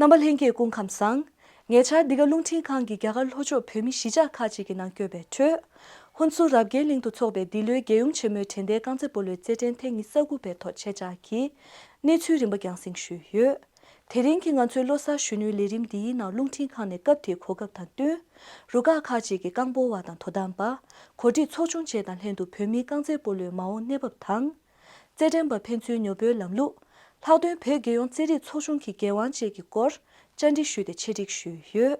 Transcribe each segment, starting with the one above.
རྣམ་པ་ལྷན་སྐྱེས་སྐུ་ཁམས་བཟང། ཉེ་ཆར་འདི་ག་རླུང་འཕྲིན་ཁང་གིས་རྒྱ་གར་ལྷོ་ཕྱོགས་བོད་མི་གཞིས་ཆགས་ཁག་ཅིག་གི་ནང་བསྐྱོད་པའི་ཁྲོད། ཧུན་སུར་རབ་རྒྱལ་གླིང་དུ་འཚོགས་པའི་འདི་ལོའི་རྒྱལ་ཡུམ་ཆེན་མོའི་དྲན་རྟེན་རྐང་རྩེད་སྤོ་ལོའི་རྩེད་འགྲན་ཐེངས་ཉི་ས་དགུ་པའི་ཐོག་ཁྱེད་ཅག་གིས་གནས་ཚུལ་རིམ་པ་རྒྱང་བསྲིང་ཞུས་ཡོད། དེ་རིང་གི་ང་ཚོའི་བློ་གསར་གཞོན་ནུའི་ལས་རིམ་འདིའི་ནང་རླུང་འཕྲིན་ཁང་ནས་སྐབས་དེའི་གོ་སྐབས་དང་བསྟུན། རུ་ཁག་ཁག་ཅིག་གི་རྐང་སྤོ་བ་དང་དོ་དམ་པ། གོ་སྒྲིག་ཚོགས་ཆུང་བཅས་དང་ལྷན་དུ་བོད་མིའི་རྐང་རྩེད་སྤོ་ལོའི་མ་འོངས་གནས་བབ་དང། རྩེད་འགྲན་པ་ཕན་ཚུན་ཉོ་འབོལ་ལམ་ལུགས། ལྷག་དོན་བོད་རྒྱལ་ཡོངས་རྩེད་རིགས་ཚོགས་ཆུང་གི་འགན་དབང་བཅས་ཀྱི་སྐོར་བཅར་འདྲི་ཞུས་ཏེ་འཆད་འགྲིག་ཞུས་ཡོད།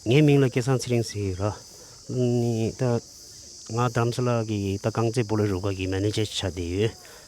ངའི་མིང་ལ་སྐལ་བཟང་ཚེ་རིང་ཟེར་རོ། ནི་ད། ང་དམ་སྲི་ལགས་ཀྱི་ད་རྐང་རྩེད་སྤོ་ལོའི་རུ་ཁག་གི་མན་ནེ་ཇར་ཆགས་བསྡད་ཡོད།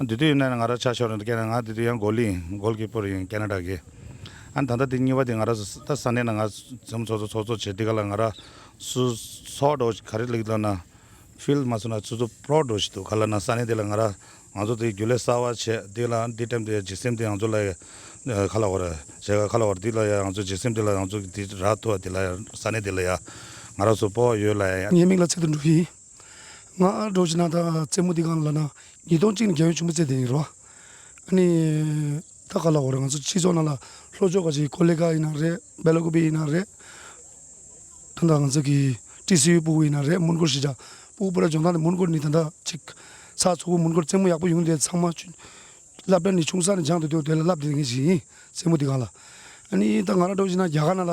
འདི་དུས་ཡིན་ན་ང་རང་ཆགས་ཞོར་ནས་ཀྱེ་ང་འདི་དུས་ཡང་གོ་ལི་ཡིན་གོ་ལི་པོར་ཡིན་ཀ་ན་ཀྲ་གི། ཨ་ད་ལྟ་འདི་གཉིས་པ་འདི་ང་རང་ད་ས་གནས་ན་ང་ཚོམ་ཚོགས་ཚོགས་ཚོགས་བྱེད་འདི་ག་ལ་ང་རང་སུ་ཚོགས་འགྲོ་ག་རེ་ལེགས་ལ་ན Field མ་སོང་ན་ཚུ་ཚུ་པྲོག་འགྲོ་བྱེད་འདུག་ག་ལ་ན་ས་གནས་འདི་ལ་ང་རང་ང་ཚོ་འདི་རྒྱུ་ལས་གསར་བ་བྱེད་འདི་ལ་འདི་ཏེམ་འདི་འཇིགས་སེམས་འདི་ང་ཚོ་ལ་ཡང་ཁ་ལ་བོར་བྱེད་ཁ་ལ་བོར་འདི་ལ་ཡང་ང་ཚོ་འཇིགས་སེམས་འདི་ལ་ང་ཚོ་འདི་ར་ཐུ་བ་འདི་ལ་ཡང་ས་གནས་འདི་ལ་ཡང་ང་རང་སུ་པོ་བ་ཡོད་ལ་ཡང། ངའི་མིག་ལ་ཚིག་ཏུ་འགྲོ་གི་ཡིན། ང་ཨ་འབྲོག་གི་ནང་ད་རྩེད་མོ་འདི་གང་ལ་ལ་ན་ཉིས་སྟོང་གཅིག་ནས་རྒྱ་ཡོལ་ཆུང་པོ་རྩེ་དེ་ཡིན་རེད་བ། ཨ་ནི། ད་ག་ལ་འོ་རེད་ང་ཚོ་སྤྱི་ཚོགས་ནང་ལ་ལྷོ་ཕྱོགས་ཀ་ཅིག་ཀོ་ལེ་ཀ་ཡིན་ན་རེད་སྦེ་ལ་ཀོ་པེ་ཡིན་ན་རེད། ད་ལྟ་ང་ཚོ་གི་ཀྲི་སི་ཡུལ་སྤུ་བོ་ཡིན་ན་རེད་མོན་གྷོར་གཞིས་ཆགས་སྤུ་བོ་སྤུ་ར་ལྗོངས་ཐང་ནས་མོན་གྷོར་ནི་ད་ལྟ་གཅིག་ཚགས་མཚོ་བོ་མོན་གྷོར་རྩེད་མོ་ཡག་པོ་ཡོང་དེ་ཚང་མ་ཆུ་བསླབ་གྲྭ་ནི་ཆུང་ས་ནས་སྦྱངས་དེ་དུས་དེ་ལ་བསླབ་དེ་ངེས་ཤིག་ཡིན་རྩེད་མོ་འདི་གང་ལ། ཨ་ནི་ད་ང་ར་འབྲོག་གཞིས་ན་རྒྱ་གར་ནང་ལ་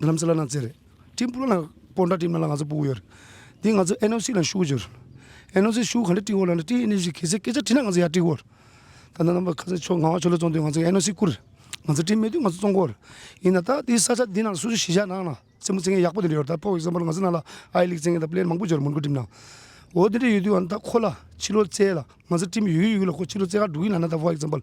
ལམ་སེ་ལ་ན་ཙེ་རེད། ཀྲིན་པུའུ་ལ་ན་ཀོ་འདྲ་ཀྲིན་ལ་ན་ང་ཚོ་སྤུ་གུ་ཡོད་རེད། དེ་ང་ཚོ་ཨེན་ཨོ་སི་ལ་ཤུག་ཡོད་རེད། ཨེན་ཨོ་སི་ཤུག་ག་འདྲ་ཀྲིན་ཧོ་ལ་ན་ཀྲིན་ཨིན་ཞེས་གལ་སྲིད་སྐད་ཆ་དྲིས་ན་ང་ཚོ་ཡར་ཀྲིན་ཧོ་རེད། ད་ནང་པ་ཁ་སང་ཆོས་ངག་དབང་ཆོས་ལོ་བཙོང་དུས་ང་ཚོ་ཨེན་ཨོ་སི་བསྐུར་རེད། ང་ཚོ་ཀྲིན་མེད་དུས་ང་ཚོ་བཙོང་གོ་རེད། ཡིན་ན་ད་དེ་ས་ཆ་འདི་ནང་སུ་སུ་གཞིས་ཆགས་ནང་ན་རྩེད་མོ་རྩེད་མཁན་ཡག་པོ་དེ་འདྲ་ཡོད་རེད་ད་ཕོར་ཨིག་ཟམ་པོར་ང་ཚོ་ནང་ལ་ཨ་ཡེ་ལིག་རྩེད་མཁན་དང་པི་ལེར་མང་པོ་བྱུང་རེད་མོན་གྷོ་ཀྲིམ་ནང། འོ་དེ་འདྲ་ཡོད་དུས་ང་ད་ཁོ་ལ་ཕྱི་ལོ་བཙལ་ལ་ང་ཚོ་ཀྲིན་ཡོད་ཀྱི་ཡོད་ལ་ཁོ་ཕྱི་ལོ་བཙལ་ཁར་འགྲོ་གི་ལ་ན་ད་ཕོར་ཨིག་ཟམ་པོར།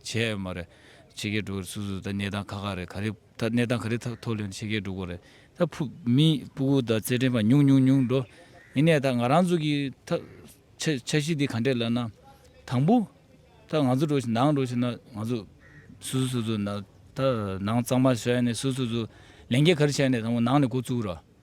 བྱས་ཡོད་མ་རེད། ཕྱི་རྒྱལ་འགྲོ་བའི་སུ་སུ་དང་གནས་སྟངས་ག་ག་རེད་ག་རེ་ད་གནས་སྟངས་ག་རེ་ཐག་ཐོག་ལོན་ཕྱི་རྒྱལ་འགྲོ་དགོས་རེད་ད་ཕུ་མི་སྤུ་གུ་དང་རྩེད་འགྲན་པ་ཉུང་ཉུང་ཉུང་འགྲོ་ཡིན་ནས་ད་ང་རང་ཚོ་གི་ད་འཆར་གཞི་འདི་ག་འདྲས་ལབ་ན་དང་པོ་ད་ང་ཚོ་འགྲོ་བཞིན་ནང་འགྲོ་བཞིན་ན་ང་ཚོ་སུ་སུ་སུ་སུ་ན་ད་ནང་གཙང་མ་བྱས་ནས་སུ་སུ་སུ་ལས་འགན་ག་རེ་བྱས་ནས་དང་པོ་ནང་ནས་འགོ་བཙུགས་ར།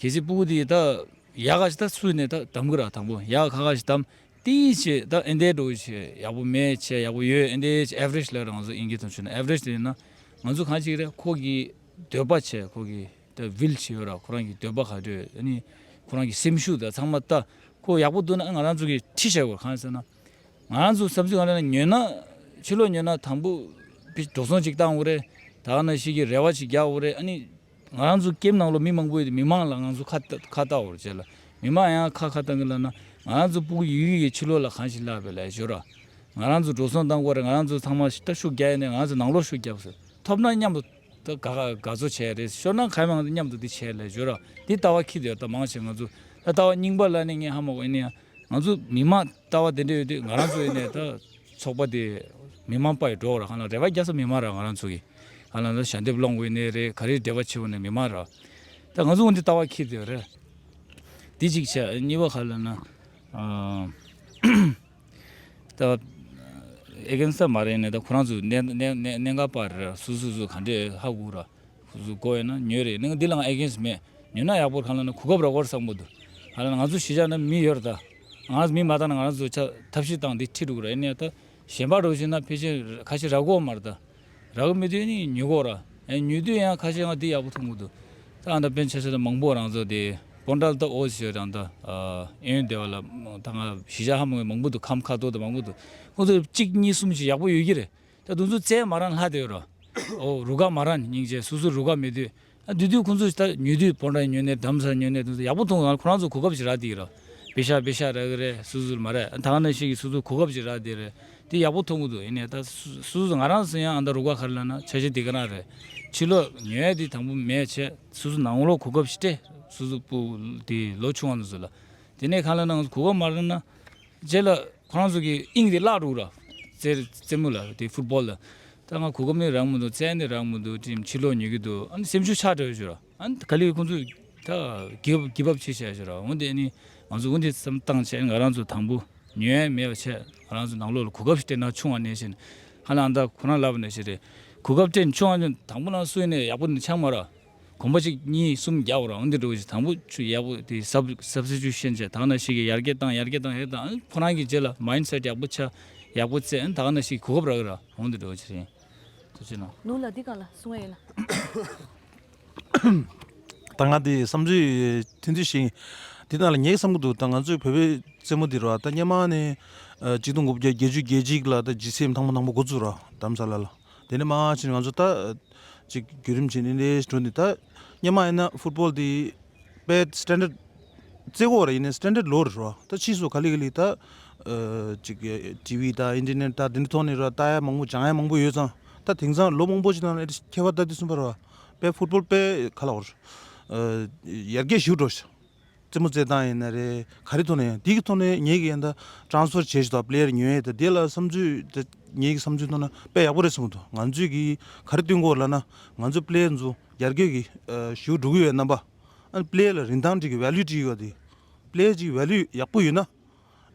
གལ་སྲིད་སྤུ་གུ་དེ་ད་ཡག་ག་ཞིག་ད་སུས་ནས་ད་དམ་གི་ར་དང་པོ་ཡག་ག་ག་ཞིག་དམ་དེ་ཡིན་ཆེད་ད་ཨིན་དའི་འགྲོ་ཆེད་ཡག་པོ་མེད་ཆེད་ཡག་པོ་ཡོད་ཨིན་དའི་ཆེད average ལས་ར་ང་ཚོ་ཨིན་གྱི་དོན་ཆུ་ན average དེ་ཡིན་ན་ང་ཚོ་གང་ཅིག་རེད་ཁོ་གི་འདོད་པ་ཆེད་ཁོ་གི་ད་བིལ་ཆེད་ཡོད་ར་ཁོ་རང་གི་འདོད་པ་ག་དུས་ཨ་ནི་ཁོ་རང་གི་སེམས་ཤུགས་ད་ཚང་མ་ད་ཁོ་ཡག་པོ་འདུག་ན་ང་རང་ཚོ་གི་ཁྲིད་བྱ་དགོས་གང་ཟེར་ན་ང་རང་ཚོ་བསམ་ཚུལ་གང་རེད་ན་ཉོས་ན་ཕྱི་ལོག་ཉོས་ན་དང་པོ་འགྲོ་སོང་ཅིག་བཏང་འོ་རེད་ད་ཨ་ན་ཞིག་གི་རེ་བ་ཅིག་རྒྱག་འོ་རེད་ཨ་ནི། ང་རང་ཚོ་ཀེམ་ནང་ལོ་མི་མང་པོ་ཡོད་དེ་མི་མང་ལ་ང་ཚོ་ཁ་བཏགས་བོར་བྱས་ལ། མི་མང་ཡང་ཁ་ཁ་བཏགས་གི་ལབ་ན། ང་རང་ཚོ་སྤུག་ཡུལ་ཡུལ་གྱི་ཕྱི་ལོག་ལ་གང་ཞིག་བསླབས་པའི་ལས་ཞོར། ང་རང་ཚོ་འགྲོ་སོང་བཏང་སྐོར་རེད་ང་རང་ཚོ་ཚང་མ་ཤི་ཤུགས་རྒྱག་ཡས་ནས་ང་རང་ཚོ་ནང་ལོག་ཤུགས་རྒྱབ་ཟེར། ཐོབ་ན་མཉམ་དུ་དགའ་བཟོ་བྱས་རེད་ཤོར་ན་གང་མང་མཉམ་དུ་འདི་བྱས་ལས་ཞོར། འདི་ལྟ་བ་ཁྱི་དེ་ལྟ་མང་བྱས་ང་ཚོ། ད་ལྟ་བ་རྙིང་པ་ལ་ནི་ངས་ཧ་མ་གོ་ཡིན་ན་ཡང། ང་ཚོ་མི་མང། ལྟ་བ་དེ་འདྲ་ཡོད་དུས་ང་རང་ཚོ་ཡེ་ནས་ད་ཚོགས་པ་དེ་མི་དམངས་པ་ཡི་འགྲོ་བ་ར་གང་ལ་རེ་བ་རྒྱ་ས་མི་དམངས་ར་ང་རང་ཚོ་གི་གང་ལ་ལ་ཞལ་འདེབས་སློང་དགོས་ཡེ་ནས་རེད་ག་རེ་འབྲེལ་བ་ཆེ་བ་ནི་མི་དམངས་ར་ད་ང་ཚོ་ང་འདི་ལྟ་བ་ཁྱེད་དེ་རེད་འདི་གཅིག་བྱས་གཉིས་པ་ག་ལ་ན་ད་ཨེ་གན་ས་མ་རེད་ཡེ་ནས་ད་ཁོ་རང་ཚོ་གནད་གནད་གནད་འགག་པ་ར་སུ་སུ་སུ་ག་འདྲས་ཧ་གོ་ར། གཟུགས་གོ་ཡོད་ན་ཉོས་རེད་གླིང་འདི་ལ་ང་ཨེ་གནས་སུ་མེད་ཉོས་ན་ཡག་པོ་གང་ལ་ན་གོ་སྐབས་ར་བོར་བསགས་མོ་འདུག་ང་ལ་ང་ཚོ་གཞིས་ཆགས་ན་མི་ཡོད་ར་ད་ང་ཚོ་མི་མ་ད་ན་ང་རང་ཚོ་ཆ་ཐབས་ཤེས་བཏང་འདི་ཁྲིད་འགྲོ་གི་ར་ཨེ་གནས་ད་གཞན་པ་འགྲོ་ཤེས་ན་ཕལ་ཆེར་ཁ་ཤས་ར་གོ་མ་ར་ད་ར་གོ་མི་དུས་ནི་ཉོས་གོ་ར་ཉོས་དུས་ཡང་ཁ་ཤས་ང་འདི་ཡག་པོ་ཐུག་མོ་འདུག་ད་ཨ་ད་པན་ཆ་ས་ད་མང་པོ་རང་ཚོ་དེ་པོ་འདྲ་ལ་ད་ཨོ་ཞེས་རང་ད་ཨེ་ཡོན་སྡེ་བ་ལ་ད་ང་གཞིས་ཆགས་ཧ་མ་ག་མང་པོ་འདུག་ཁམས་ཁ་ཐོར་ད་མང་པོ་འདུག་ཁོང་ཚོ་གཅིག་གཉིས་གསུམ་ཞིག་ཡག་པོ་ཡོད་ཀྱི་རེད་ད་དུང་ཚུ་ཚའི་མ་རང་ལྷ་དེ་རོ། རུ་དགའ་མ་རང་སྙིང་རྗེ་སུ་སུ་རུ་དགའ་མི་དུས། དུས་དུས་ཁོང་ཚོ་ད་ཉོས་དུས་བོར་འདྲ་ཡིན་ཉོས་ནས་དམ་ཟ་ཉོས་ནས་དུང་ཟ་ཡག་པོ་འཐུང་གང་ཁོ་རང་ཚོ་གོ་སྐབས་ཅིག་རག་དེ་རོ། བི་ཤ་བི་ཤ་རེ་གི་རེ་སུ་སུ་མ་རེ་ད་ག་ནས་ཤིག་གི་སུ་སུ་གོ་སྐབས་ཅིག་རག་དེ་རེ། དེ་ཡག་པོ་འཐུང་གི་འདུག་ཡིན་ནས་ད་སུ་སུ་ང་རང་སུ་ཡང་ཨ་མདའ་རུ་དགའ་ཁར་ལ་ན་ཆ་ཤི་དེ་ག་རང་རེ། ཕྱི་ལོ་ཉོས་ཡ་དེ་དང་པོ་མེད་བྱས་སུ་སུ་ནང་ལོ་གོ་སྐབས་ཤི་སྟེ་སུ་སུ་སྤུ་དེ་ལོ་ཆུང་བ་ནས་སུ་ལ། དེ་ནས་གང་ལ་ན་ང་ཚོ་གོ་སྐབས་མ་རག་ན། རྗེས་ལ་ཁོ་རང་ཚོ་གིས་དབྱིངས་དེ་བརླག་འགྲོ་གི་ར། རྩེད་མོ་ལ་དེ་ཧྥུ་པོ་ལ། ད་ང་གོ་སྐབས་ནི་རག་མི་འདུག་རྩལ་ནི་རག་མི་འདུག་ཅིང་ཕྱིར་ལོག་ཉོ་གི་འདུག་ཨ་ནི་སེམས་ཤུགས་ཆགས་བྲལ་བའི་ཆུ་ར། ཨ་ནི་ག་ལེར་ཁོ་ཚོས་ད་གིས་བབ་ཆེ་བྱས་ཆུ་ར་འོན་ཏེ་ཨ་ནི་ང་ཚོས་འོན་ཏེ་བསམ་བཏང་བྱས་ང་རང་ཚོ་དང་པོ་ཉོས་ཡས་མེད་པ་བྱས་ང་རང་ཚོ་ནང་ལོག་ལ་གོ་སྐབས་ཤིག་སྤྲད་ན་ཆུང་བ་ནས་བྱས་ནས་ཧ་ལ་ཨ་མདའ་ཁོ་རང་ལབ་པ་ནས་བྱས་ཏེ་གོ་སྐབས་སྤྲད་ཆུང་བ་ནས་དང་པོ་ནང་སོས་ནས་ཡག་པོ་ནས་ཆགས་མ་ར། གོམ་པ་གཅིག་གཉིས་གསུམ་བརྒྱ་བོར་འང་འདི་འགྲོ་གི་ཆུ་དང་པོ་ཆུ་ཡག་པོ་དེ་སབ་སབ་སེ་ཆུ་ཤེས་བྱ་དག་ན་ཞིག་གི་ཡར་རྒྱས་བཏང་ཡར་རྒྱས་བཏང་ཡར་རྒྱས་བཏང་ཁོ་རང་གི་རྗེས་ལ་མཱིན་སེད་ཡག་པོ་ཆ་ཡག་པོ་བཙལ་ཨང་དག་ན་ཞིག་གི་གོ་སྐབས་རག་གི་ར་འོང་འདི་འགྲོ་གི་ཆུ་ཡིན་ཐུགས་ཆེ་གནང། ནུ་ལ་འདི་གང་ལ་སོང་ཡིན་ན། ད་ང་འདི་བསམ་ཚུལ་ཐུན་ཚོད་ཞིག་འདི་གནང་ལ་ངས་བསམ་གི་འདུག་ད་ང་ཚོའི་བོད་པའི་རྩེད་མོ་འདི་རོ་ད་སྙེ་མ་ནས་གཅིག་སྟོང་དགུ་བརྒྱ་བརྒྱད་ཅུ་བརྒྱད་གཅིག་ལ་ད་ཇི་སེ་མཐང་པོ་མཐང་པོ་འགོ་བཙུགས་ར་དམ་ས་ལ་ལ། དེ་ནས་མང་ཆེ་ནས་ང་ཚོ་ད་ཅིག་བརྒྱུད་རིམ་བྱས་ནས་འདི་འགྲོ་ནས་ད་སྙན་མ་ཡིན་ན་ཧྥུ་ཏྤོལ་དེ་པའི Standard རྩེ་གོག་རེ་ཡིན་ན Standard ལོ་རེ་རོ་ད་ཕྱིས་སུ་ག་ལེ་ག་ལེ་ད་ཅིག TV ད Internet ད་དེ་འདྲ་ཐོག་ནས་རོ་ད་ཡ་མང་པོ་བྱང་ཡ་མང་པོ་ཡོད་ཙང་ད་དེང་སང་ལོ་མང་པོ་ཅིག་ནང་ལ་ཁྱད་པར་ད་དེ་གསུམ་པ་རོ་པའི་ཧྥུ་ཏྤོལ་པའི་ག་ལ་འོ་རེ་ཡར་རྒྱས་ཞུ་འགྲོ། རྩེད་མོ་རྩེད་སྟངས་ཡིན་ན་རེད་ག་རེ་ཐོག་ནས་ཡང་དེ་གི་ཐོག་ནས་ངེད་ཀྱིས་ཡང་དག་དྲང་སོར་བྱེད་ཞོར་དང་ལེར་ཉོན་ཡོད་དེ་དེ་ལ་བསམ་ཚུལ་ངེད་ཀྱི་བསམ་ཚུལ་ཐོག་ན་དཔེ་ཡག་པོ་རེད་གསུངས་འདུག་ང་ཚོས་གིས་ག་རེ་བསྟུན་དགོས་ལབ་ན་ང་ཚོས་པི་ལེའི་འཛུ་རྒྱར་སྐྱོད་ཀྱི་ཞུ་འགྲོ་གི་ཡོད་རྣམ་པ་ཨ་པི་ལེ་ལ་རིན་ཐང་བྲིས་ཀྱི་ཝལ་ལུས་བྲིས་ཡོད་དེ་པི་ལེ་ཅིག་ཝལ་ལུས་ཡག་པོ་ཡོད་ན་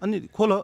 ཨ་ནི་ཁོ་ལ།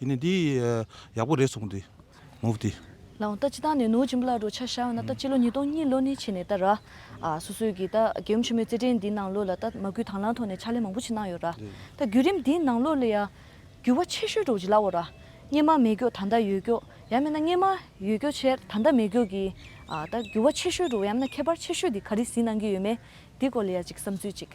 ཡིན་ནི་འདི། ཡག་པོ་རེད་སོང་འདི། མོ་འདི། ལའང་ལྟ་ཅི་ད་ནས་ནོར་ཅིག་འབུ་ལ་རོ་ཆ་བཞག་ཡོང་ན་ད་སྤྱི་ལོ་ཉིས་སྟོང་གཉིས་ལོ་ནས་ཕྱི་ནས་ད་ར། སོ་སོས་ཀྱིས་ད་རྒྱལ་ཡུམ་ཆེན་མོའི་རྩེད་འགྲན་འདིའི་ནང་ལོགས་ལ་ད་མ་གུས་དང་ལང་ཐོག་ནས་ཕྱག་ལས་མང་པོ་ཆེ་གནང་ཡོད་ར། ད་བརྒྱུད་རིམ་འདིའི་ནང་ལོགས་ལ་ཡ། འགྱུར་བ་ཆེ་ཤོས་འགྲོ་གི་ལ་འོ་ར། སྙེ་མ་མེད་ཀྱོག་ད་ད་ཡོད་ཀྱོག་ཡ་མེད་ན་སྙེ་མ་ཡོད་ཀྱོག་ཆེར་ད་ད་མེད་ཀྱོག་གི། ད་འགྱུར་བ་ཆེ་ཤོས་འགྲོ་ཡ་མེད་ན་ཁྱད་པར་ཆེ་ཤོས་འདི་ག་རེ་ཟིན་གནང་གི་ཡོད་མེད་འདི་སྐོར་ལ་ཡ་ཅིག་བསམ་ཚུལ་ཅིག།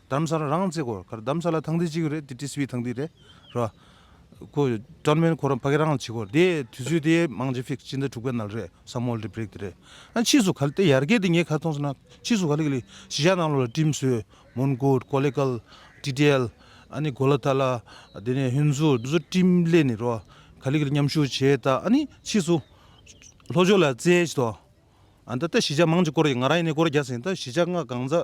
དམ་སར་རང་བཙས་གོ་གར་དམ་ས་ལ་ཐང་དེ་གཅིག་རེད་དེ་ཏི་སི་བྷི་ཐང་དེ་རེད་རོ། ཁོ་ཀྲང་མན་ཁོ་རང་ཕ་གི་རང་ལ་བྱེད་གོ་དེ་དུས་ཚོད་དེ་མང་ཇེ་ཕིག་སྤྱི་ཟླ་དྲུག་པའི་ནལ་རེད་སམ་མོལ་དེ་བརེག་དེ་རེད་ཨ་ཕྱིས་སུ་ག་ལ་ཏེ་ཡར་རྒས་དེ་ངས་ག་ལ་མཐོང་སོང་ན་ཕྱིས་སུ་ག་ལ་གི་ལི་ཞི་ཞྭ་ནང་ལོ་ལ་ཀྲིམ་སོའི་མོན་གོར་ཀོ་ལེ་ཀལ་ཏི་ཏེལ་ཨ་ནི་གོ་ལ་ཐ་ལ་དེ་ནས་ཧིན་ཟུ་དེ་ཚོ་ཀྲིམ་ལེ་ནི་རོ་ག་ལ་གི་ལི་མཉམ་ཞུགས་བྱས་ད་ཨ་ནི་ཕྱིས་སུ་ལྷོ་ཕྱོགས་ལ་བཙལ་ཏོ་ཨ་ད་ད་ཞི་ཞྭ་མང་ཅིག་བསྐོར་ཡི་ང་རང་ཡི་ནས་བསྐོར་རྒྱ་ཟིན་ད་ཞི་ཞྭ་ང་གང་ཟ།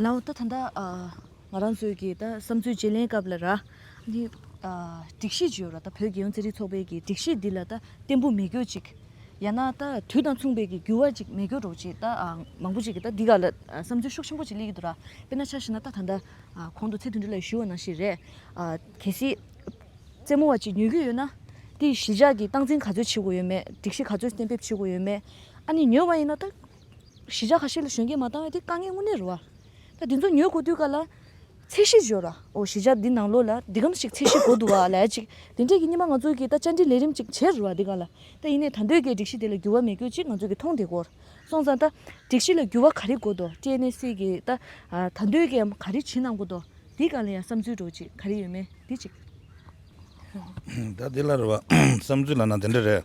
ལའོ་ད་ད། ང་རང་ཚོའི་གི་ད་བསམ་ཚུལ་བརྗེ་ལེན་སྐབས་ལ་ར། འདི། སྒྲིག་གཞི་བརྗེ་ཡོད་ར་ད་བོད་རྒྱལ་ཡོངས་རྩེད་རིགས་ཚོགས་པའི་གི་སྒྲིག་གཞི་འདི་ལ་ད་བརྟན་པོ་མི་དགོས་ཅིག། ཡང་ན་ད་དུས་དང་མཚུངས་པའི་གི་འགྱུར་བ་ཅིག་མི་དགོས་རོགས་ཅིག་ད་མང་པོ་ཅིག་གི་ད་འདི་ག་ལ་བསམ་ཚུལ་ཤུགས་ཆེན་པོ་ཅིག་གླེང་གི་འདུག་ར། དཔེར་ན་ཆ་ཞིག་ན་ད་ད། གོང་དུ་ཚེ་དོན་འདྲི་ལ་ཞུས་བ་ནང་བཞིན་རེད། གལ་སྲིད། རྩེད་མོ་བ་ཅིག་ཉོས་ཀྱི་ཡོད་ན། དེ་ཡི་གཞིས་ཆགས་ཀྱི་སྟངས་འཛིན་ག་ཚོད་བྱེད་དགོས་ཡོད་མེད་སྒྲིག་གཞི་ག་ཚོད་གཏན་འབེབས་བྱེད་དགོས་ཡོད་མེད། ཨ་ནི་ཉོས་བ་ཡིན་ན་ད། གཞི་ཆགས་ཁ་ཤས་ལ་གཞོན་སྐྱེས་མ་བཏང་བས་དེ་དཀའ་ངལ་དངོས་གནས་རུ་བ། ད་དེ་ཚོ་ཉོས་གོ་དུས་ག་ལ། ཚད་གཞི་བཞོར་བ། འོ་གཞི་ཆགས་འདི་ནང་ལོགས་ལ་འདི་གམ་ཞིག་ཚད་གཞི་གོ་འདུག་བ་ལས་ཅིག་དེ་འདྲས་ཀྱི་སྙེ་མ་ང་ཚོ་གིས་ད་བཅར་འདྲི་ལས་རིམ་ཅིག་བྱེད་རུ་བ་འདི་ག་ལ། ད་ཡིན་ནས་ད་འདོད་ཀའི་སྒྲིག་གཞི་དེ་ལ་འགྱུར་བ་མེད་ཁྱོད་ཅིག་ང་ཚོ་གིས་མཐོང་དེ་གོར་སོང་ཙང་ད། སྒྲིག་གཞི་ལ་འགྱུར་བ་ག་རེ་གོ་འདུག་སྤྲེལ་ནད་སྲིད་ཀྱི་ད། ད་འདོད་ཀའི་འམ་ག་རེ་བྱེད་གནང་གོ་འདུག་འདི་ག་ལ་ཡང་བསམ་ཚུལ་འགྲོ་ཅིག་ག་རེ་ཡོད་མེད་འདི་ཅིག། ད་འདི་ལ་རུ་བ། བསམ་ཚུལ་ལ་ན་འདི་འདྲ་རེད།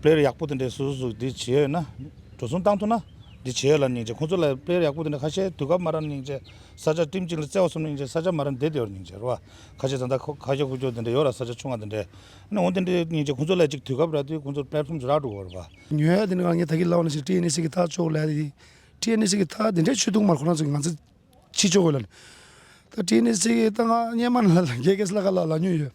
དཔེར་ཡག་པོ་དེ་འདྲའི་སུས་སུ་འདི་བྱེད་ཡོད་ན། འགྲོ་སོང་བཏང་ཐུབ་ན། འདི་བྱེད་ཡོད་ལ་ནིང་བྱེད་ཁོང་ཚོ་ལ་དཔེར་ཡག་པོ་དེ་འདྲ་ཁ་ཤས་དུས་སྐབས་མ་ར་ནིང་བྱེད་ས་ཆ་ཀྲིམ་གཅིག་ལ་བརྩེ་བ་གསུམ་ནིང་བྱེད་ས་ཆ་མ་ར་འདེད་དེ་ཡོར་ནིང་བྱེད་ར་བ་ཁ་ཤས་ད་ལྟ་ཁ་ཁྱོ་ཁུ་ཁྱོ་དེ་འདྲ་ཡོད་ར་ས་ཆ་ཆུང་བ་དེ་འདྲས་ནི་འོང་དེ་འདྲས་ནིང་བྱེད་ཁོང་ཚོ་ལ་གཅིག་དུས་སྐབས་ར་དུས་ཁོང་ཚོར་དཔེར་ཁྲོམ་ཆུ་རག་འགྲོ་དགོས་ར་བ། ཉོས་ཡོད་དེ་ནི་རང་ཉིད་ད་གི་ལག་ན་ཞིག་ཀྲི་ཨེ་ནི་སི་ཀི་ཐག་ཆོད་ལ་ཡི་ཀྲི་ཨེ་ནི་སི་ཀི་ཐག་དེ་འདྲས་ཆོད་དུག་མར་ཁོ་རང་ཚོ་གི་ང་ཚོ་ཕྱི་ཆོད་དགོས་ལ་ནི། ད་ཀྲི་ཨེ་ནི་སི་ཀི་ཐག་ང་སྙེ་མ་ན་ལ་རྒྱལ་ཁེ་སི་ལ་ཁ་ལ་ལ་ཉོས་ཡོད།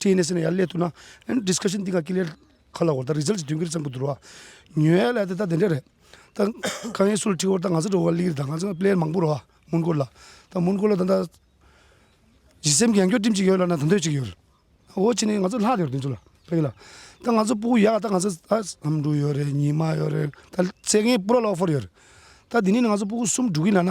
TNSA ནས་ཡར་སླེབས་ཐུབ་ན Discussion འདི་ག་ཀི་ལེར་ག་ལ་འོར་ད Result སྟོན་གི་རེད་བསམ་གི་འདུག་ར་ཉོས་ཡ་ལ་དེ་ད་དེ་འདྲ་རེད་ད་ཁ་ཡེ་སུལ་ཁྲི་འོར་ད་ང་ཚོ་འགྲོ་བ་ལིར་ད་ང་ཚོ Plan མང་པོ་རོ་མོན་གྷོ་ལ་ད་མོན་གྷོ་ལ་ད་ད་གཞི་སེམས་གྱེན་སྐྱོད་ཀྲིམ་གཅིག་ཡོད་ལ་ན་ད་འདོད་གཅིག་ཡོད་རེད་འོ་ཅི་ནས་ང་ཚོ་ལྷག་ཡོད་རེད་དེ་ཚོ་ལ་ཕ་གི་ལ་ད་ང་ཚོ་སྤུ་གུ་ཡག་ད་ང་ཚོ་ད་ཨམ་དྲུག་ཡོད་རེད་ཉི་མ་ཡོད་རེད་ད་ཚེ་རྒན་སྤུ་ར་ལོག་ཧྥོར་ཡོད་རེད་ད་དེ་ནས་ང་ཚོ་སྤུ་གུ་གསུམ་འགྲོ་གི་ལ་ན་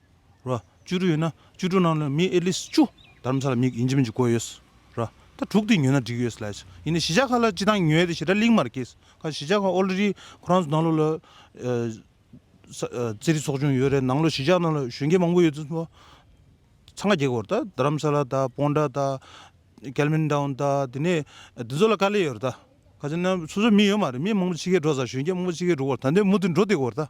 ར། བཅུ་དྲུག་ཡོད་ན་བཅུ་དྲུག་ནང་ལས་མི atleast བཅུ་དར་མ་ས་ལ་མིག་ཡིན་གྱི་མིན་གྱི་བཀོད་ཡོད། ར། ད་དྲུག་དེ་ཉོས་ན་འགྲིག་ཡོད་ལས། ཡིན་ནའི་གཞིས་ཆགས་ཁག་ལ་སྤྱི་བཏང་ཉོས་ཏེ་ཞེ་དྲག་གླིང་མར་སྐྱེས། ཁ་གཞིས་ཆགས་ཁག already ཁོ་རང་ཚོ་ནང་ལོགས་ལ། རྩེད་རིགས་ཚོགས་ཆུང་ཡོད་རེད་ནང་ལོགས་གཞིས་ཆགས་ནང་ལོགས་གཞོན་སྐྱེས་མང་པོ་ཡོད་ཚུལ་སྨྲོས། ཚང་ག་རྒྱལ་སྒོར་ད་དར་རམ་ས་ལ་ད་སྤོང་དྲ་ད། Kelvin Town ད་དེ་ནས་དེ་ཚོ་ལ་དཀའ་ལས་ཡོད་རེད་ད། ཁ་ཆེ་ན་སོ་སོའི་མི་ཡོད་མ་རེད་མི་མང་པོ་ཕྱི་ཁའི་འགྲོ་ས་གཞོན་སྐྱེས་མང་པོ་ཕྱི་ཁའི་འགྲོ་སྒོར་ད་འདི་མུ་མཐུད་འགྲོ་བསྡད་དགོས་རེད་ད།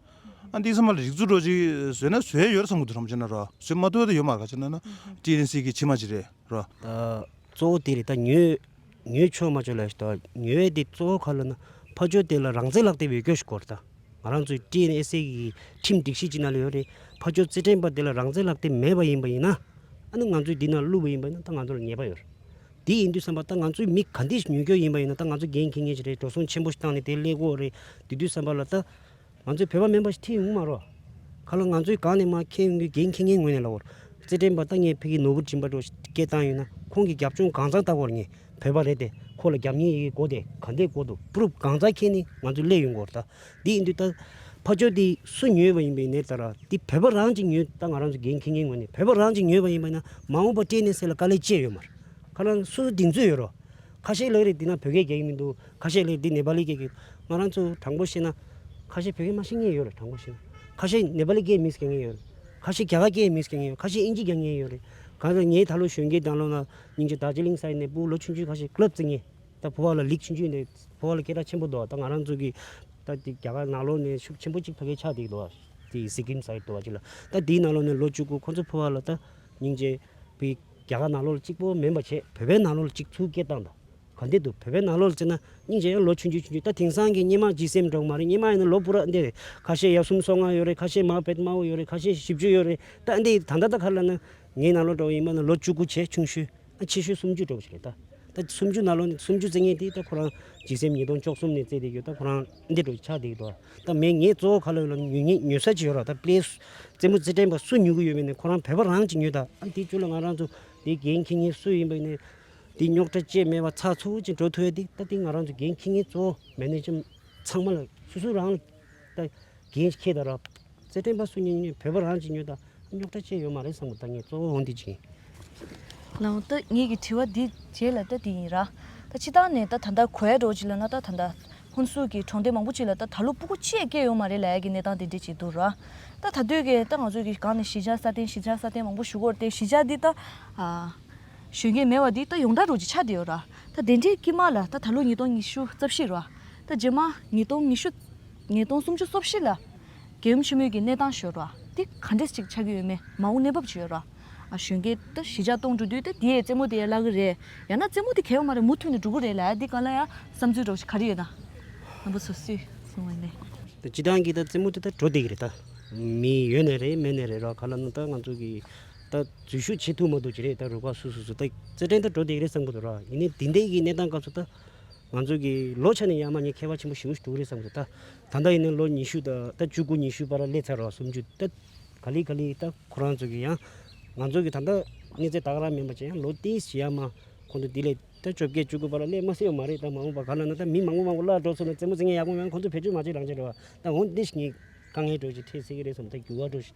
ཨ་འདི་ས་མ་ལ་རིག་ཚུགས་འགྲོ་ཅིག་ཟོས་ན་ཟོས་ཡོད་ར་ས་མགུ་འདུག་རམ་ཅེ་ན་རོ་ཟོས་མ་འདུག་ད་ཡོད་མ་ར་ཅེ་ན་ན་ཏི་ལིན་སི་ཀི་ཆི་མ་ཅི་རེད་རོ། གཙོ་བོ་དེ་རེད་ད་ཉོས་ཉོས་ཆོས་མ་ཆོས་ལ་ཞིག་ད་ཉོས་བས་དེ་གཙོ་བོ་ཁ་ལོ་ན་ཕ་ཆོས་དེ་ལ་རང་བཙན་ལག་དེབ་ཡོད་སྐྱོ་ཞིག་གོ་ར་ད་ང་རང་ཚོའི་ཏི་ལིན་སི་ཀི་ཁྲིམས་སྒྲིག་གཞི་ཅི་ན་ལ་ཡོད་རེད་ཕ་ཆོས་རྩེ་ཕྲེང་པ་དེ་ལ་རང་བཙན་ལག་དེབ་མེད་པ་ཡིན་པ་ཡིན་ན་ཨ་ནི་ང་ཚོས་འདི་ན་བླུས་པ་ཡིན་པ་ཡིན་ན་ད་ང་ཚོ་ལ་ཉེས་པ་ཡོད་ར་དེ་ཡིན་དུས་བསམ་པ་ད་ང་ཚོའི་མི་ག་འདི་ཞིག་ཉོས་སྐྱོ་ཡིན་པ་ཡིན་ན་ད་ང་ཚོ་འགན་འཁྱེར་ངེས་ཞིག་རེད་འགྲོ་སོང་ཆེན་པོ་ཞིག་བཏང་ནས་དེ་སླེ་གོ་རེད་དེ་དུས་བསམ་པ་ལ་ད། ང་ཚོའི་བོད་པ་མིན་པ་ཞིག་ཐེངས་དབུ་མ་རོ། ཁ་ལོ་ང་ཚོའི་གང་ནས་མ་མཁས་ཡོང་གི་རྒན་ཁྱི་ངའི་ངོས་ནས་ལ་བོར། རྩེད་འགྲན་པ་ལྟ་ངས་ཕི་གིའི་ནོར་བུར་བྱིན་པ་འགྲོ་ཞེས་སྐད་བཏང་ཡོད་ན་ཁོང་གིས་རྒྱབ་ལྗོངས་གང་ཟག་ལྟ་བུར་ངས་བོད་པ་རེད་དེ་ཁོ་ལ་རྒྱབ་གཉེར་ཡི་གེ་གོ་དེ་ག་འདའི་སྐོར་དུ proof གང་ཟག་ཁྱེད་ནི་ང་ཚོའི་སླད་ཡོད་མགོར་ལྟ་འདི་ཡིན་དུས་ལྟ། ཕ་ཅོ་དེ་སུ་ཉོས་པ་ཡིན་པའི་ནས་ལྟ་ར་དེ་བོད་པ་རང་གཅིག་ཉོས་ལྟ་ང་རང་ཚོ་རྒན་ཁྱི་ངའི་ངོས་ནས་བོད་པ་རང་གཅིག་ཉོས་པ་ཡིན་པ་ཡིན་ན་མ་འོངས་པ་སྤྲད་ནས་སེ་ལ་དཀའ་ལས་སྤྱད་ཡོད་མར་ཁ་ལ་སུ་སུ་དེ་མཛོད་ཡོད་རོ། ཁ་ཤས་ལགས་རེད་དེ་ན་བོད་སྐད་རྒྱག་གི་མི་འདུག། ཁ་ཤས་ལས་འདི་ནེ་པ་ལི་སྐད་གི། ང་རང་ཚོ་དྲང་པོ་བཤད་ན། ཁ་ཤས་བོད་སྐད་མ་ཤེས་ངེས་ཡོད་རེད་དྲང་པོ་བཤད་ན། ཁ་ཤས་ནེ་པ་ལི་སྐད་མི་ཟེར་ངེས་ཡོད་རེད། ཁ་ཤས་རྒྱ་གར་སྐད་མི་ཟེར་ངེས་ཡོད་ཁ་ཤས་ཨིན་ཇི་རྒྱ་ངེས་ཡོད་རེད། གང་ལྟར་ངས་ད་ལོ་གཞོན་སྐྱེས་དང་ལོ་ན་ཉིང་ཆེ་དར་ཅི་ལིང་ས་ཡིན་ནས་སྤུ་ལོ་ཆུང་ཆུང་ཁ་ཤས་ཀློད་བརྩི་ངེས། ད་ཕོ་བ་ལ་ལིག་ཆུང་ཆུང་ཡིན་ནས་ཕོ་བ་ལ་སྐད་གྲགས་ཆེན་པོ་འདུག་ད་ང་རང་ཚོ་གི། ད་དེ་རྒྱ་གར་ནག་ལོ་ནས་ཤུགས་ཆེན་པོ་གཅིག་ཕ་གི་ཆགས་འདེགས་འདུག་དེ་སི་ཀིམ་ས་ཡི་འདུག་གཅིག་ལ། ད་དེའི་ནང་ལོ་ནས་ལོ་བཅུ་དགུ་ཁོང་ཚོ་ཕོ་བ་ལ་ད་ཉིང་ཅེ་བི་རྒྱ་གར་ནག་ལོ་ལ་གཅིག་པོ་མེན་པ་བྱས། བོད་པའི་ནག་ལོ་ལ་གཅིག་ཚུལ་སྐད་བཏང་དང། གང་འདི་འདུག་བོད་པའི་ནང་ལོགས་ལ་བལྟས་ན་སྙིང་རྗེ་ཡང་ལོ་ཆུང་རྒྱུས་ཆུང་རྒྱུས་ད་དེང་སང་གི་སྙེ་མ་གྱིས་སེམས་འགྲོགས་མ་རེད་སྙེ་མ་ཡིན་ན་ལོ་སྤུ་རགས་འདི་རེད་ཁ་ཤས་ཡབ་གསུམ་སོ་ལྔ་ཡོད་རེད་ཁ་ཤས་མ་བེད་མ་བོ་ཡོད་རེད་ཁ་ཤས་བཞི་བཅུ་ཡོད་རེད་ད་འདི་ད་ལྟ་ད་ཁར་ལ་ན་ངའི་ནང་ལོགས་འགྲོགས་ཡིན་པ་ན་ལོ་བཅུ་དགུ་བྱས་ཆུང་ཤོས་ཨ་ཆེ་ཤོས་སུམ་ཅུ་འགྲོགས་བྱས་རེད་ད་ད་སུམ་ཅུ་ནང་ལོགས་ནས་སུམ་ཅུ་བརྩེགས་ངེས་འདི་ད་ཁོ་རང་གྱིས་སེམས་ཉིས་སྟོང་བཅོ་གསུམ་ནས་བརྩེགས་བསྡད་ཡོད་ད་ཁོ་རང་འདི་འགྲོགས་ཆགས་བསྡད་ཡོད་ད་མེད་ངས་གཙོ་བོ་ཁ་ལོ་ལ་ཉུལ་ཉེས་ཉོས་ས་ཅི་ཡོད་ར་ད་པླེ་རྩེད་མོ་རྩེད་དྲན་པ་སུ་ཉུལ་གི་ཡོད་མེད་ནས་ཁོ་རང་བོད་པ་རང་གྱིས་ཉོས་ད་འདི་བཅུ་ལ་ང་རང་ཚོ་འདི་རྒན་ཁྱི་གཉིས་སུ་ཡིན་པ་ནས་འདི་རྙོག་དྲ་བཅས་མེད་པར་ཚགས་ཚུད་ཅིག་འགྲོ་ཐུབ་ཡོད་དེ་ད་ལྟའི་ང་རང་ཚོ་འགན་འཁྱེར་མཁན་གཙོ་བོ་མན་ནེ་ཇམ་ཚང་མ་ལ་སུ་སུ་རང་ལ་འགན་འཁྱེར་དང་རོགས་རྩེ་སྤྲིངས་པ་སུ་ཉོས་ཉོས་བོད་པ་རང་གཅིག་ཉོས་དང་རྙོག་དྲ་བཅས་ཡོད་མ་རེད་བསམ་གི་ད་ངས་གཙོ་བོ་འོང་དུས་བྱིན། ལའོ་ཏི་ངེད་ཀྱི་དྲི་བ་འདི་རྗེས་ལ་ལྟ་དེ་ཡིན་ར། ད་ཕྱི་ཐང་ནས་ད་ད་ལྟ་གོའེ་འགྲོ་ཅིག་ལ་ན་ད་ད་ད་ཧོན་སུའུ་གི་གྲོང་སྡེ་མང་པོ་ཅིག་ལ་ད་ད་ལོ་སྤུ་གུ་ཆེས་སྐྱེས་ཡོད་མ་རེད་ལའེ་ཀྱི་གནས་སྟངས་དེ་འདྲས་ཅིག་འདུག་ར། ད་ད་དུས་ཀྱི་ད་ང་ཚོ་གི་སྒང་ནས་གཞིས་ཆགས་སྲ་བརྟན་གཞིས་ཆགས་སྲ་བརྟན་མང་པོ་བཞུགས་སྐོར་དེ་གཞིས་ཆགས་འདི་ད། གཞོན་སྐྱེས་མེད་བ་འདི་ད་ཡོངས་གྲགས་རུ་གྱི་ཆ་དེ་ཡོད་ར་ད་དེ་འདྲའི་དཀྱིས་མ་ལ་ད་ད་ལོ་ཉིས་སྟོང་ཉི་ཤུ་རྩ་བཞི་ར་ད་རྗེས་མ་ཉིས་སྟོང་ཉི་ཤུ་ཉིས་སྟོང་སུམ་ཅུ་སོ་བཞི་ལ་རྒྱལ་ཡུམ་ཆེན་མོའི་གྱི་གནས་སྟངས་ཤོད་ར་དེ་ག་འདྲས་ཅིག་ཆགས་ཀྱི་ཡོད་མེད་མ་འོངས་གནས་བབ་ཅི་ཡོད་ར་གཞོན་སྐྱེས་ད་གཞིས་ཆགས་སྟོང་འགྲོ་དུས་ད་དེའི་རྩེད་མོ་དེ་ཡ་བརླག་གི་རེད་ཡང་ན་རྩེད་མོ་དེ་གས་པ་མ་རེད་མུ་མཐུད་ནས་འགྲོ་གི་རེད་ལ་འདི་ག་ལ་ཡང་བསམ་ཚུལ་སྒྲོག་བྱེད་ག་རེ་ཡོད་ད་རྣམ་པ་སོ་སོས་གསུང་བ་ནས། ད་སྤྱི་བཏང་གི་ད་རྩེད་མོ་དེ་ད་འགྲོ་བསྡད་གི་རེད་ད་མི་ཡོད་ནས་རེད་མེད་ནས་རེད་ར་ག་ལ་ན་ད་ང་ཚོ་གི། ད་འཛུལ་ཞུགས་བྱེད་ཐུབ་མ་འདུག་ཅེས་རེད་ད་རུ་ཁག་སུ་སུ་སུ་ད་རྩེད་འགྲན་ད་འགྲོ་བསྡད་ཀྱི་རེད་བསམ་གྱི་འདུག་ར་ཡིན་ནའི་འདི་འདྲའི་གི་གནས་སྟངས་སྐབས་སུ་ད་ང་ཚོ་གི་ལོ་ཆ་ནས་ཡར་མ་ཉེས་མཁས་པ་ཆེན་པོ་བཞི་བོ་ཞིག་འདུག་གི་རེད་བསམ་གྱི་འདུག་ད་ད་ལྟ་ཡིན་ན་ལོ་ཉི་ཤུ་ད་ད་བཅུ་དགུ་ཉི་ཤུ་པར་སླེབས་ཚར་རོ་སུམ་ཅུ་ད་ག་ལི་ག་ལི་ད་ཁོ་རང་ཚོ་གི་ཡང་ང་ཚོ་གི་ད་ལྟ་གནས་ཚད་ད་ག་རང་མིན་པ་ཅི་ཡང་ལོ་དེའི་ཞེ་ཡང་མ་ཁོང་ཚོ་དེ་ལས་ད་བཅོ་བརྒྱད་བཅུ་དགུ་པར་སླེབས་མ་སྲིད་པ་མ་རེད་ད་མ་འོངས་པ་ག་ལ་ན་ད་མི་མང་པོ་མང་པོ་སླར་འགྲོ་ཚུར་ན་རྩེད་མོ་རྩེ་མཁན་ཡག་པོ་མང་པོ་ཁོང་ཚོ་བེད་སྤྱོད་མ་བྱེད་རང་བྱེད་འགྲོ་བ་ད་འོང་འདི་ཞིག་ངས་དཀའ་ངལ་སྒྲོག་ཅིག་ཐེག་སེ་གི་རེད་བསམ་ད་འགྱུར་བ་འགྲོ་ཞིག།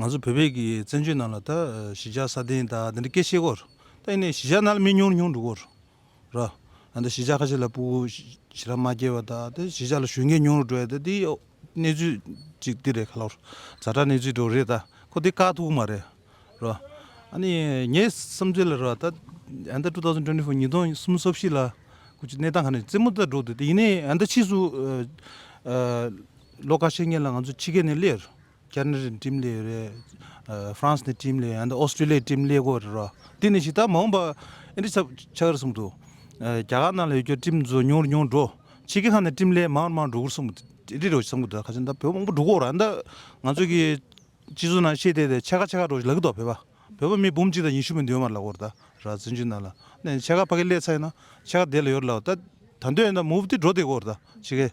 ང་ཚོ་བོད་པའི་གི་བཙན་བྱོལ་ནང་ལ་ད་གཞིས་ཆགས་ས་སྟེང་ད་འདི་འདྲ་སྐད་བཤད་སྐོར། ད་ཡིན་ནའི་གཞིས་ཆགས་ནང་ལ་མི་ཉུང་རུ་ཉུང་འགྲོ་སྐོར། ར། ད་གཞིས་ཆགས་ཁ་ཤས་ལ་སྤུ་གུ་ཞི་ར་མ་སྐྱེས་པ་ད་དེ་གཞིས་ཆགས་ལ་ཞུ་མཁན་ཉུང་རུ་འགྲོ་ཡ་ད་འདི་གནས་ཚུལ་ཅིག་འདི་རེད་ག་ལོར། བཟའ་ཁྲ་གནས་ཚུལ་འགྲོ་རེད་ད་ཁོ་འདི་དཀའ་ཐུག་མ་རེད། ར། ཨ་ནི་ངའི་བསམ་ཚུལ་ལ་ར་ད་ཨ་ད2024ཉིས་སྟོང་གསུམ་སོ་བཞི་ལ་ཁུ་ཅི་གནས་སྟངས་ག་ནས་རྩེད་མོ་ད་འགྲོ་འདོད་ད་ཡིན་ནའི་ཨ་ད་ཕྱིས་སུ། ལོ་ཀ་ཤས་ཉེ་ལ་ང་ཚོ་ཕྱི་རྒྱལ་ནས་སླེབས། ཁྱེད་ནི་འགྲིམ་ལས་རེད། France ནས་འགྲིམ་ལས་ཡང་ན Australia ནས་འགྲིམ་ལས་དགོས་རེད་རོ། དེ་ནི་ཞིག་ད་མ་འོངས་པ་ཨིན་ཏི་ཚབ་ཆགས་རེད་གསུངས་འདུག་རྒྱ་གར་ནང་ལ་ཡོད་རྒྱུ་འགྲིམ་འཛོ་ཉུང་རེ་ཉུང་འགྲོ། ཕྱི་རྒྱལ་ཁག་ནས་འགྲིམ་ལས་མང་རེ་མང་འགྲོ་གསུངས་འདུག་རེད་རེད་གསུངས་གི་འདུག་ཁ་ཆེ་ད་བོད་མང་པོ་འགྲོ་གི་རེད་ཨ་མདའ་ང་ཚོ་གི་སྤྱི་ཚོགས་ནང་ཤེས་དེ་ཕྱེད་ཀ་ཕྱེད་ཀ་འགྲོ་ཞིག་ལབ་གི་འདུག་བོད་པ། བོད་པ་མི་འབུམ་གཅིག་དང་ཉི་ཤུ་མི་འདུས་མ་ལབ་གོ་ད་ར་བཙན་བྱོལ་ནང་ལ། ནས་ཕྱེད་ཀ་ཕ་གི་ལས་ཚ་ཡིན་ན་ཕྱེད་ཀ་བསྡད་ལ་ཡོད་རེད་ལབ་ད་ད་འདོད་ཡོད་ན་མུ་བུ་ཏི་འགྲོ་བསྡད་གོ་རེད་ད་ཕྱི་རྒྱལ།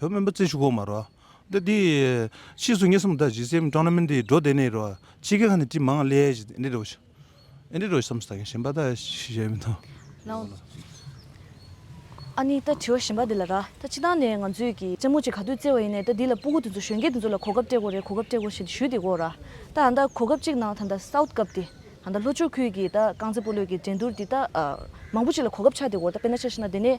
བོད་སྨན་པ་རྩེ་ཞུ་གོང་མ་རོ། འདི་དེ། ཕྱིས་སུ་ངེད་གསུམ་དག་ཇི་སེམས་ཀྲང་ན་མིན་དེ་འགྲོ་དེ་ནས་རོ། ཕྱི་རྒྱལ་ཁ་ནས་དྲི་མང་ལས་ཞེས་འདི་རོ། ཨེ་འདི་རོ་བསམ་སྟངས་གཞན་པ་དག་ཞིག་ཡོད་མི་འདུག། ལགས། ཨ་ནི་ད་དྲི་བ་གཞན་པ་འདི་ལ་ར། ད་ཕྱི་ཐང་ནས་ང་ཚོས་ཀྱི་རྩེད་མོ་ཅིག་ག་དུས་རྩེ་བ་ཡིན་ནས་ད་འདི་ལ་སྤུ་གུ་དེ་ཚོ་གཞོན་སྐྱེས་དེ་ཚོ་ལ་གོ་སྐབས་སྤྲད་གོ་རེ་གོ་སྐབས་སྤྲད་གོ་ཞེས་ཞུས་དེ་གོ་ར། ད་ད་གོ་སྐབས་ཅིག་ནང་ད་ད South Cup དེ། ད་ལྷོ་ཕྱོགས་ཁུལ་གྱི་ད་རྐང་རྩེད་སྤོ་ལོའི་གྱི་འགྲན་བསྡུར་དེ་ད། མང་པོ་ཅིག་ལ་གོ་སྐབས་ཆགས་དེ་གོ་ར་ད་དཔེར་ན་ཆ་ཤི་ན་དེ་ནས།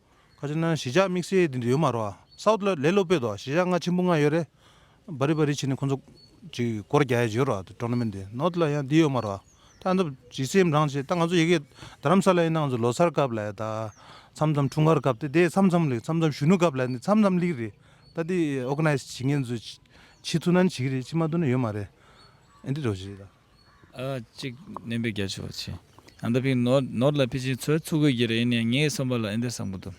ཁ་ཆེ་ན་གཞིས་ཆགས་དམིགས་བསལ་འདི་འདྲ་ཡོད་མ་རོ། ས་འོག་ལས་སློབ་སྤེལ་དོ་གཞིས་ཆགས་ལྔ་ཆེན་པོ་ལྔ་ཡོད་རེད། བ་རི་བ་རི་བྱས་ནས་ཁོ་ཚོ་ཅིག་སྐོར་བརྒྱ་ཡ་བྱོས་རོ་ཏྲོ་ནོ་མེན་ཏེ་ནོར་ལ་ཡང་འདི་ཡོད་མ་རོ། ཐང་ཐབ་ཇི་སེམས་རང་བྱེད་ད་ང་ཚོ་ཡི་གེ་རྡ་རམ་ས་ལ་ཡིན་ན་ང་ཚོ་ལོ་སར་སྐབས་ལ་ཡ་ད་མཚམས་མཚམས་འཁྲུངས་སྐར་སྐབས་ཏེ་དེ་མཚམས་མཚམས་ལེགས་མཚམས་མཚམས་གཞོན་ནུ་སྐབས་ལ་ཡ་འདི་མཚམས་མཚམས་ལེགས་རེད། ད་འདི་ཨོ་ག་ནའི་བྱེད་མཁན་ཚོས་བྱེད་ཐུ་ན་ནི་བྱེད་གི་རེད་བྱེད་མ་ཐུ་ན་ཡོད་མ་རེད། ཨེ་འདི་འདྲ་བྱེད། གཅིག་བསྣན་པའི་རྒྱ་ཆེ་བ་བྱས། ཨ་ད་ཕིག་ནོར་ལ་ཕི་ཆིན་ཚོའི་ཚུར་རྒོལ་གྱི་རེ་ཡིན་ཡང་ངའི་བསམ་པ་ལ་ཨེ་འདེ་བསམ་གི་འདུག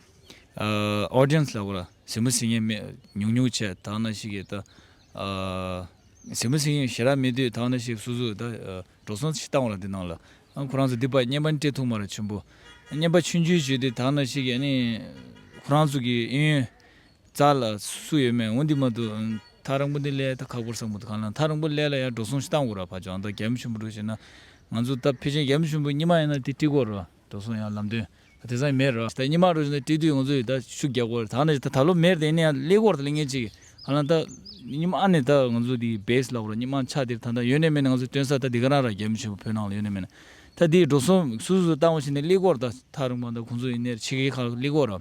Audience ལ་གོ་ལ་ཟིན་མོ་ཟིན་ངས་ཉུག་ཉུག་བྱས་དག་ན་ཞིག་གིས་ད་ཟིན་མོ་ཟིན་ཞེ་རག་མེད་དུས་དག་ན་ཞིག་སུ་སུ་ད་འགྲོ་སོང་ཞིག་བཏང་བ་ལ་འདི་ནང་ལ་ཁོ་རང་ཚོ་འདི་པ་སྙན་པ་འདྲེ་ཐུག་མ་ར་ཆུན་པོ་སྙན་པ་ཆུན་ཆུན་བྱོས་ཏེ་དག་ན་ཞིག་གིས་ཨ་ནི་ཁོ་རང་ཚོ་གི་ཨེ་ཡོན་རྩ་ལ་སུ་ཡོད་མེད་འོ་འདི་མ་འདུག་ཐག་རིང་པོ་འདི་ཀླད་ད་ཁག་པོར་བསགས་མ་འདུག་གང་ལ་ཐག་རིང་པོ་ཀླད་ལ་ཡར་འགྲོ་སོང་ཤི་སྟངས་འུར་ར་བར་འཇོག་འདོག་རྒྱ་མི་ཆུན་པོ་འགྲོ་བཞིན་ན་ང་ཚོ་སྟབས་ཕལ་ཆེན་རྒྱ་མི་ཆུན་པོ་གཉིས་མ་ཡིན་ན་དེ་བཀྲིས་སྐོར་འགྲོ་སོང་ཡང་ལམ་དོན་དེ་སང་མེད་ར་ད་གཉིས་མ་འགྲོ་བཞིན་ན་བཀྲིས་དུས་ང་ཚོ་ཡིད་ད་ཤུགས་རྒྱག་དགོས་ར་ད་ནི་ད་ལོ་མེར་དེ་ནས་ཡང་ཀླད་སྐོར་ད་ལ་ངེད་ཅིག་གང་ལ་ད་གཉིས་མ་ནི་ད་ང་ཚོ་དེ་བེས་ལ་འུར་ར་གཉིས་མ་ཆགས་དེར་ད་ད་ཡོད་ནས་མེད་ནས་ང་ཚོ་སྟོན་ས་ད་དེ་ག་རང་ར་རྒྱ་མི་ཆུན་པོ་བོད་ནང་ལ་ཡོད་ནས་མེད་ན་ད་དེ་འགྲོ་སོང་སུ་སུ་སུ་བཏང་བ་བཞིན་ནས་ཀླད་སྐོར་ད་ཐག་རིང་པོ་ད་ཁོང་ཚོ་ཡིན་ནས་ཕྱི་གའི་ཁག་ཀླད་སྐོར་ར་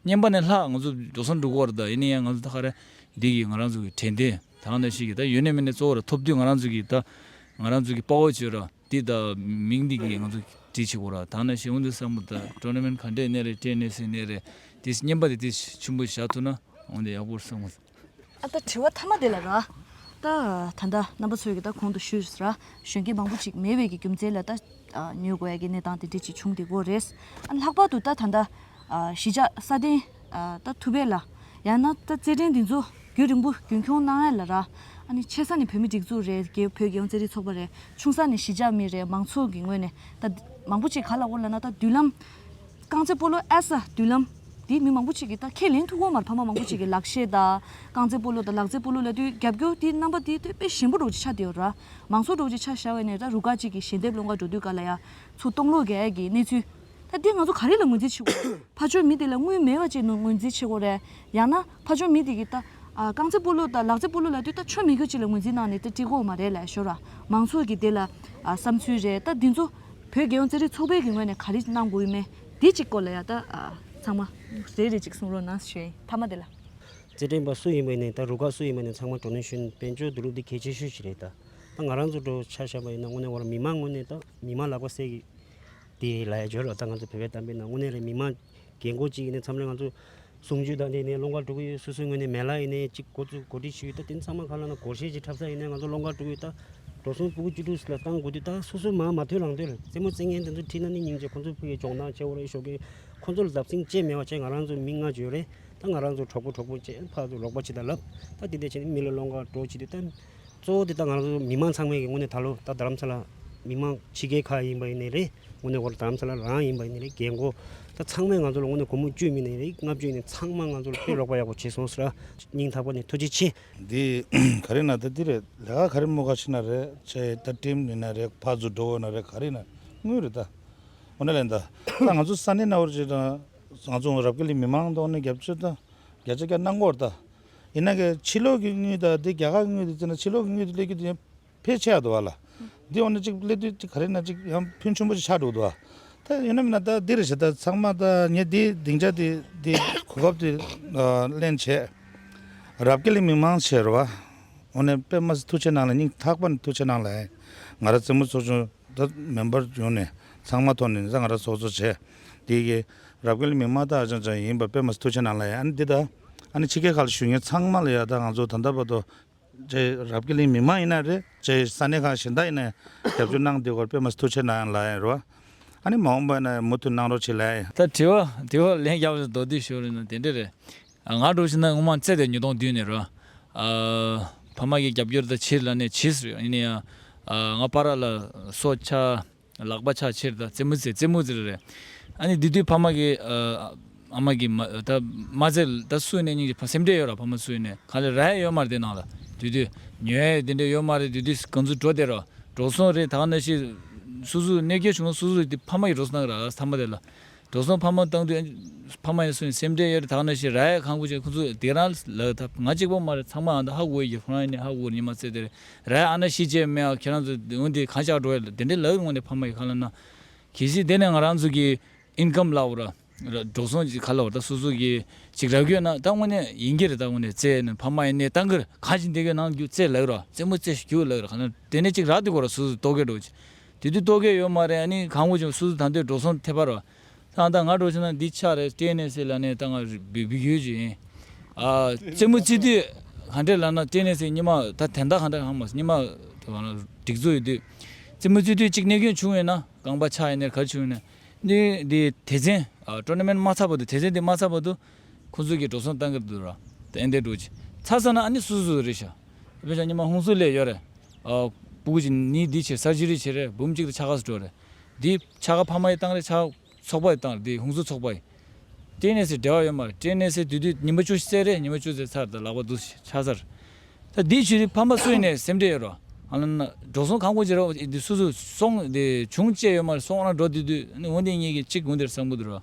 བསྙེན་པ་ནི་ལྷག་ང་ཚོ་འགྲོ་སོང་འགྲུག་སྐོར་དང་ཡིན་ན་ཡང་ང་ཚོ་ད་ག་རེ་འདི་གི་ང་རང་ཚོ་གི་དྲན་རྟེན་དང་ནི་ཞིག་གི་ད་ཡོད་ནི་མིན་ནི་གཙོ་བོ་ར་ཐོབ་དུས་ང་རང་ཚོ་གི་ད་ང་རང་ཚོ་གི་དཔའ་བོ་ཆོས་ར་འདི་ད་མིང་འདི་གི་ང་ཚོ་བྲིས་ཆོག་གོ་ར་དང་ནི་ཞིག་འོན་ཏེ་སང་ཕོ་ད་ཀྲོ་ན་མན་ག་འདྲའི་གནས་རེད་བཀྲའི་གནས་སེང་གནས་རེད་དེ་ཡིས་བསྙེན་པ་དེ་དེ་ཆུན་པོ་བཞག་ཐུབ་ན་འོན་ཏེ་ཡག་པོར་སོང། ཨ་ད་དྲི་བ་ཐ་མ་དེ་ལ་ར། ད་ད་ལྟ་རྣམ་པ་ཚོས་ཀྱི་ད་གོང་དུ་ཞུས་ར་གཞོན་སྐྱེས་མང་པོ་ཅིག་མེས་དབལ་གྱི་རྒྱུ་མཚན་ལ་ད་ཉོས་དགོས་ཡ་གྱི་གནས་སྟངས་དེ་འདྲས་ཅིག་བྱུང་དེ་གོ་རེས། ལྷག་པར་དུ་ད་ད་ལྟ་གཞིས་ཆགས་ས་སྟེང་ད་ཐུབ་པས་ལ་ཡང་ན་ད་རྩེད་འགྲན་འདི་ཚོ་རྒྱུན་རིང་པོ་རྒྱུན་འཁྱོངས་གནང་ཡ་ལ་ར། ཨ་ནི་ཆེ་ས་ནི་བོད་མི་སྒྲིག་འཛུགས་རེད་ཀྱི་བོད་རྒྱལ་ཡོངས་རྩེད་རིགས་ཚོགས་པ་རེད་ཆུང་ས་ནི་གཞིས་ཆགས་མི་རེད་མང་ཚོགས་ཀྱི་ངོས་ནས་ད་མང་པོ་ཅིག་ག་ལ་འོ་ལ་ན་ད་མདུན་ལམ་རྐང་རྩེད་སྤོ་ལོ་ཨེ་ས་མདུན་ལམ། འདི་མི་མང་པོ་ཅིག་གིས་ད་ཁས་ལེན་ཐུབ་ཁོ་མར་ཕ་མ་མང་པོ་ཅིག་གིས་ལག་ཤེས་དང་རྐང་རྩེད་སྤོ་ལོ་དང་ལག་རྩེད་སྤོ་ལོ་ལ་དུས་རྒྱབ་སྐྱོར་དེའི་རྣམ་པ་དེ་དེ་དཔེ་གཞན་པོ་འགྲོགས་ཀྱི་ཆ་དེའོ་ར། མང་ཚོགས་འགྲོགས་ཀྱི་ཆ་ཞར་བས་ནས་ད་རུ་ཁག་ཅིག་གིས་ཞལ་འདེབས་སློང་གར་འགྲོ་དུས་ག་ལ་ཡ་ཚུ་སྟོང་ལོག་གས་ཀྱི་གནས་ཚུལ། ད་འདི་ང་ཚོ་ག་རེ་ལ་ངོས་འཛིན་བྱེད་དགོས་རེད། ཕ་ཆོས་མི་དེ་ལ་དངུལ་མེད་པ་ཅིག་ངོས་འཛིན་བྱེད་དགོས་རེད་ཡང་ན། ཕ་ཆོས་མི་དེ་གི་ད། རྐང་རྩེད་སྤོ་ལོ་དང་ལག་རྩེད་སྤོ་ལོ་ལ་དུས་ད་ཆོས་མི་གོ་ཅི་ལ་ངོས་འཛིན་གནང་ནས་ད་བཀྲིས་གོ་མ་རེད་ལ་ཤོར་ར་མང་ཚོགས་ཀྱི་དེ་ལ་བསམ་ཚུལ་རེད་ད་འདི་ཚོ། བོད་རྒྱལ་ཡོངས་རྩེད་རིགས་ཚོགས་པའི་གི་ངོས་ནས་ག་རེ་གནང་དགོས་ཡོད་མེད་དེ་གཅིག་སྐོར་ལ་ཡ་ད་ཚང་མ་ཟེར་རེ་གཅིག་གསུང་རོགས་གནང་ཞེ་མཐའ་མ་དེ་ལ། རྩེད་འགྲན་པ་སུ་ཡིན་པ་ནས་ད་རུ་ཁག་སུ་ཡིན་པ་ནས་ཚང་མ་གྲོ་ནས་ཤོན་དཔལ་འབྱོར་དུ་ལུགས་འདི་གལ་ཆེ་ཤོས་ཞིག་རེད་ད་ད་ང་རང་ཚོ་གྲོ་ཆ་ཤ་པ་ཡིན་ན་དངོས་ནས་བ་ལ་མི་མང་ངོས་ནས་ད་མི་མང་ལག་པ་གསལ་གི་དེ་ལ་ཡང་བརྗོད་ལ་ད་ང་ཚོ་བོད་པའི་གཏམ་དཔེ་ནང་དངོས་གནས་རེད་མི་དམངས་རྒན་རྒོན་གཅིག་ཡིན་ནའི་མཚམས་རེ་ང་ཚོ་གསུང་ཆོས་དང་འདི་ནས་ཀློག་མཁར་དཀྲུག་ཡོད་སོ་སོའི་ངོས་ནས་མེ་ལག་ཡིན་ནའི་གཅིག་གོ་ཚུལ་གོ་སྒྲིག་ཞུས་ཡོད་ད་དེ་ཚང་མ་ཁ་ལ་ན་གོར་ཤེས་ཀྱི་འཁྲབ་ས་ཡིན་ནའི་ང་ཚོ་ཀློག་མཁར་དཀྲུག་ཡོད་ད་འགྲོ་སོང་སྤུ་གུ་བཅུ་དྲུག་ལ་བཏང་དགོས་དུས་ད་སོ་སོའི་མང་མ་ཐོས་ལང་ཐོས་རེད་རྩེད་མོ་རྩེད་མཁན་དེ་ཚོ་ཁྲིད་ན་ནི་སྙིང་རྗེ་ཁོ་ཚོ་ཕུ་ཡི་གྱོང་ཐང་ཆེ་བོ་རེད་ཤོག་གིས་ཁོ་ཚོ་ལ་བརྡབ་སེང་ཅེས་མེད་བ་ཅེས་ང་རང་ཚོ་མི་ལྔ་བརྗོད་རེད་ད་ང་རང་ཚོ་གྲོགས་པོ་གྲོགས་པོ་ཅེས་ཕར་དུ་རོགས་པ་བྱེད་ད་ལབ་ད་དེ་འད་བྱས་ནས་མི་ལ་ཀློག་མཁར་དཀྲོག་བྱེད་དུས་ད། གཙོ་བོ་དེ་ལྟར་ང་རང་ཚོ་མི་དམངས་ཚང་མས་ཀྱི་ངོས་ནས་ད་ལོ་ད་རྡ་རམ་ས་ལ་མི་དམངས་ཕྱི་རྒྱལ་ཁག་ཡིན་པ་ཡིན་ནས་རེད་ངོས་ནས་དགོར་རྡ་རམ་ས་ལ་རང་ཡིན་པ་ཡིན་ནས་རེད་རྒན་རྒོ་ད་ཚང་མས་ང་ཚོ་ལ་ངོས་ནས་སྒོར་མོ་བཅུ་མིན་ནས་རེད་ལྔ་བཅུ་ཡིན་ནས་ཚང་མ་ང་ཚོ་ལ་དཔེ་ལོག་པ་ཡག་པོ་བྱས་སོང་ཟེར་སྙིང་ཐག་པ་ནས་ཐུགས་རྗེ་ཆེ། འདི་ག་རེ་ན་ད་འདི་རེད་ལས་ཀ་ག་རེ་མོ་ག་ཕྱི་ན་རེད་ཆ་ཡེ་ད་ཀྲིམ་ནི་ན་རེད་ཕ་ཛུ་འགྲོ་འོ་ན་རེད་ག་རེ་ན་དངུལ་རེད་ད་འོ་ན་ལེན་ད་ད་ང་ཚོ་ས་གནས་ན་འོ་རེད་ད་ང་ཚོ་རབ་ཀེ་ལི་མི་དམངས་མདོག་ནི་རྒྱབ་ཆོད་ད་རྒྱ་ཆ་རྒྱ་ནག་འོ་རེད་ད། ཡིན་ན་གིས་ཕྱི་ལོགས་ཀྱི་དངུལ་དང་དེ་རྒྱ་གར་གྱི་དངུལ་དུ་བརྩིས་ན་ཕྱི་ལོགས་ཀྱི་དངུལ་དུ་སླེབས་རྒྱུ་དེ་ཕལ་ཆེ་བ་འདུག་བ་ལ། འདི་འོ་ན་གཅིག་སླེབས་དུས་གཅིག་ག་རེ་ན་གཅིག་ཡང་ཕུན་ཆུང་པོ་ཞིག་ཆགས་འགྲོ་གི་འདུག་བ། ད་ཡིན་ནམ་མིན་ན་ད་འདི་རེ་བྱས་ད་ཚང་མ་ད་ངས་འདིའི་སྡིངས་ཆ་དེ་དེ་གོ་སྐབས་དེ་གླེང་བྱས། རབ་དགེ་ལེགས་མི་མང་ཆེ་རུ་བ། འོ་ན་པད་མ་སི་ཐུགས་ཆེ་གནང་ལ་སྙིང་ཐག་པ་ནས་ཐུགས་ཆེ་གནང་ལ། ང་ར་རྩེད་མོ་ཚོགས་ཆུང་ད་མེན་པར་བྱུང་ནས་ཚང་མ་ཐོག་ནས་ད་ང་ར་ཚོགས་ཚོགས་བྱས། དེ་གིས་རབ་དགེ་ལེགས་མི་མང་ད་ཨ་ཅང་ཅང་ཡིན་པར་པད་མ་སི་ཐུགས་ཆེ་གནང་ལ་ཡ་ཨ་ནི་འདི་ད། ཨ་ནི་ཕྱི་རྒྱལ་ཁག་ལ་ཞུགས་མཁན་ཚང་མ་ལ་ཡང་ད་ང་ཚོ་ད་ལྟ་བར་དུ། ཇེ་རབས་ཀི་ལིང་མི་མང་ཡིན་ན་རེད་ཇེ་ས་གནས་ཁག་གཞན་དག་ཡིན་ན་ཡང་རྒྱབ་སྐྱོར་གནང་དེ་སྐོར་དཔེ་མ་ཐུག་ཆེ་ན་ཡང་ལ་ཡིན་རོ། ཨ་ནི་མ་འོངས་པ་ཡིན་ན་ཡང་མུ་མཐུད་གནང་རོགས་བྱེད་ལ་ཡིན། ད་དྲི་བ་དེ་བ་ལན་བརྒྱ་བ་ཞིག་མདོར་བསྡུས་ཞུ་རེད་ན་དེ་འདྲ་རེད། ང་སྒྲོག་བྱེད་ན་དངོས་མང་བཙལ་ཏེ་ཉིས་སྟོང་བདུན་ནས་རོ། ཕ་མ་གི་རྒྱབ་སྐྱོར་ད་ཕྱིར་ལ་ནས་ཇི་སྲིད་ཡིན་ཡང། ང་པ་ར་ལ་སོགས་ཆ། ལག་པ་ཆག་ཕྱིར་དང་རྩེད་མོ་རྩེ་རྩེད་མོ་རྩེ་རེད། ཨ་ནི་དེ་དུས་ཕ་མ་གི། ཨ་མ་གི། ད་མ་རྩེ། ད་སུའི་ནས་སྙིང་རྗེ་སེམས་ཁྲལ་ཡོད་ར་ཕ་མ་སུའི་ནས་ག་ལེ་ར་ཡ་ཡོད་མ་རེད་དེ་ནང་ལ། དུས་དུས། ཉོ་ཡ་དེ་འདྲ་ཡོད་མ་རེད་དུས་དུས་གང་ཚུ་འགྲོ་དེ་ར། འགྲོ་སོང་རེད་ད་ག་ནས་ཤི། སུ་སུ་གནས་སྐྱེལ་བྱུང་ན་སུ་སུ་དེ་ཕ་མ་ཡི་འགྲོ་སོང་ག་ར་ཨ་ས་མ་རེད་ལ། འགྲོ་སོང་ཕ་མ་བཏང་དུས། ཕ་མ་ཡང་སུ་ཡིན་སེམས་ཁྲལ་ཡོད་དག་ན་ཞིག་ར་ཡས་ཁང་བུ་ཅིག་ཁོ་ཚོ་དེ་རང་ལག་ད་ང་གཅིག་པོ་མ་རེད་ཚང་མ་ཨ་མདོ་ཧ་གོ་ཡི་ཁྱོད་རང་ཡིན་ནི་ཧ་གོ་ཉི་མ་བརྩེགས་དེ་རེད་ར་ཡས་ཨ་ན་ཤི་རྗེས་མེད་ཨ་ཁྱེད་རང་ཚོ་འོན་ཏེ་གང་ཆགས་འགྲོ་ཡ་ལ་དེ་འདྲའི་ལག་ངོ་ནས་ཕ་མ་ཡི་ཁ་ལ་ན། གལ་སྲིད་དེ་ནས་ང་རང་ཚོ་གི Income ལག་བར། འགྲོ་སོང་གི་ཁ་ལ་བར་ད་སོ་སོ་གི་ཅིག་རག་གྱོད་ན་ད་དངོས་གནས་ཡིན་གྱི་རེད་ད་དངོས་ནས་བརྩེ་ན་ཕ་མ་ཡིན་ནི་ད་འགར་གང་ཞིག་འདི་གའི་ནང་རྒྱུ་བརྩེ་ལགས་ར་བརྩེ་མོ་བརྩེ་ཞིག་རྒྱུ་ལགས་ར་ག་ན་དེ་ནས་ཅིག་རག་དེ་གོ་ར་སོ་སོ་ལྟོ་གས་འགྲོ་ཅིག་དེ་དུས་རྟོག་གེ་ཡོད་མ་རེད་ནི་གང་བོ་བྱུང་སུ་སུ་ད་ལྟའི་འགྲོ་སོང་ཐད་པར་བ། ད་ང་འགྲོ་ཆུང་ན་འདི་ཆགས་རེད་སྐྲན་ནད་སེལ་ལ་ནས་ད་ང་བི་བི་ཡོད་ཅིག་ཡིན། རྩེད་མོ་རྩེ་དུས་གང་འདྲས་ལབ་ན་སྐྲན་ནད་སེལ་སྙི་མ་ད་དན་ད་གང་འདྲ་གང་མ་སྙི་མ་དེ་བ་ན་སྒྲིག་འཛུགས་ཡོད་དུས། རྩེད་མོ་རྩེ་དུས་གཅིག་ནད་སྐྱོན་བྱུང་ཡོད་ན་རྐང་པ་ཆགས་ཡོད་ནས་གར་བྱུང་ཡོད་ནས། ནི་འདི་དེ་ཚན། Tournament མ་ཚར་བ་དུ་དེ་ཚན་འདི་མ་ཚར་བ་དུ། ཁོ་ཚོས་ཀྱི་འགྲོ་སོང་གཏང་གི་འདུག་ར་ཏན་ཏན་འགྲོ་ཅི་ཚར་ས་ན་ཨ་ནི་སུ་སུ་རེད་ཤག་དེ་ཕོ་བྱ་ཉི་མ་ཧུང་སུ་ལས་ཡོད་རེད་ཨ། པུ་གུ་ཅི་ནི་འདི་བྱེད་ས་ཅི་རིགས་བྱེད་རེད་འབུམ་གཅིག་དང་ཆ་ག་སུ་འགྲོ་རེད་འདི་ཆ་ག་ཕ་མ་ཡི་བཏང་རེད་ཆ་ཚོགས་པ་ཡི་བཏང་རེད་འདི་ཧུང་སུ་ཚོགས་པ་ཡི། ཀྲེན་ནེ་སི་འབྲེལ་བ་ཡོད་མ་རེད་ཀྲེན་ནེ་སི་དུས་དུས་ཉི་མ་བཅུ་བཙས་རེད་ཉི་མ་བཅུ་བཙས་ཚར་ད་ལག་པ་འདུག་ཤག་ཆ་སར་ད་འདི་བྱེད་རིགས་ཕ་མ་སུ་ཡིན་ནས་སེམས་ཁྲལ་ཡོད་ར་ཨ་ན་འགྲོ་སོང་གང་དགོས་ཅི་ར་འདི་སུ་སུ་སོང་འདི་བྱུང་བཅས་ཡོད་མ་རེད་སོང་ཨ་ན་འགྲོ་དུས་དུས་ཨ་ནི་འོན་ཏེ་གཉིས་ཀྱི་གཅིག་འོན་དེར་བསམ་གི་འདུག་ར།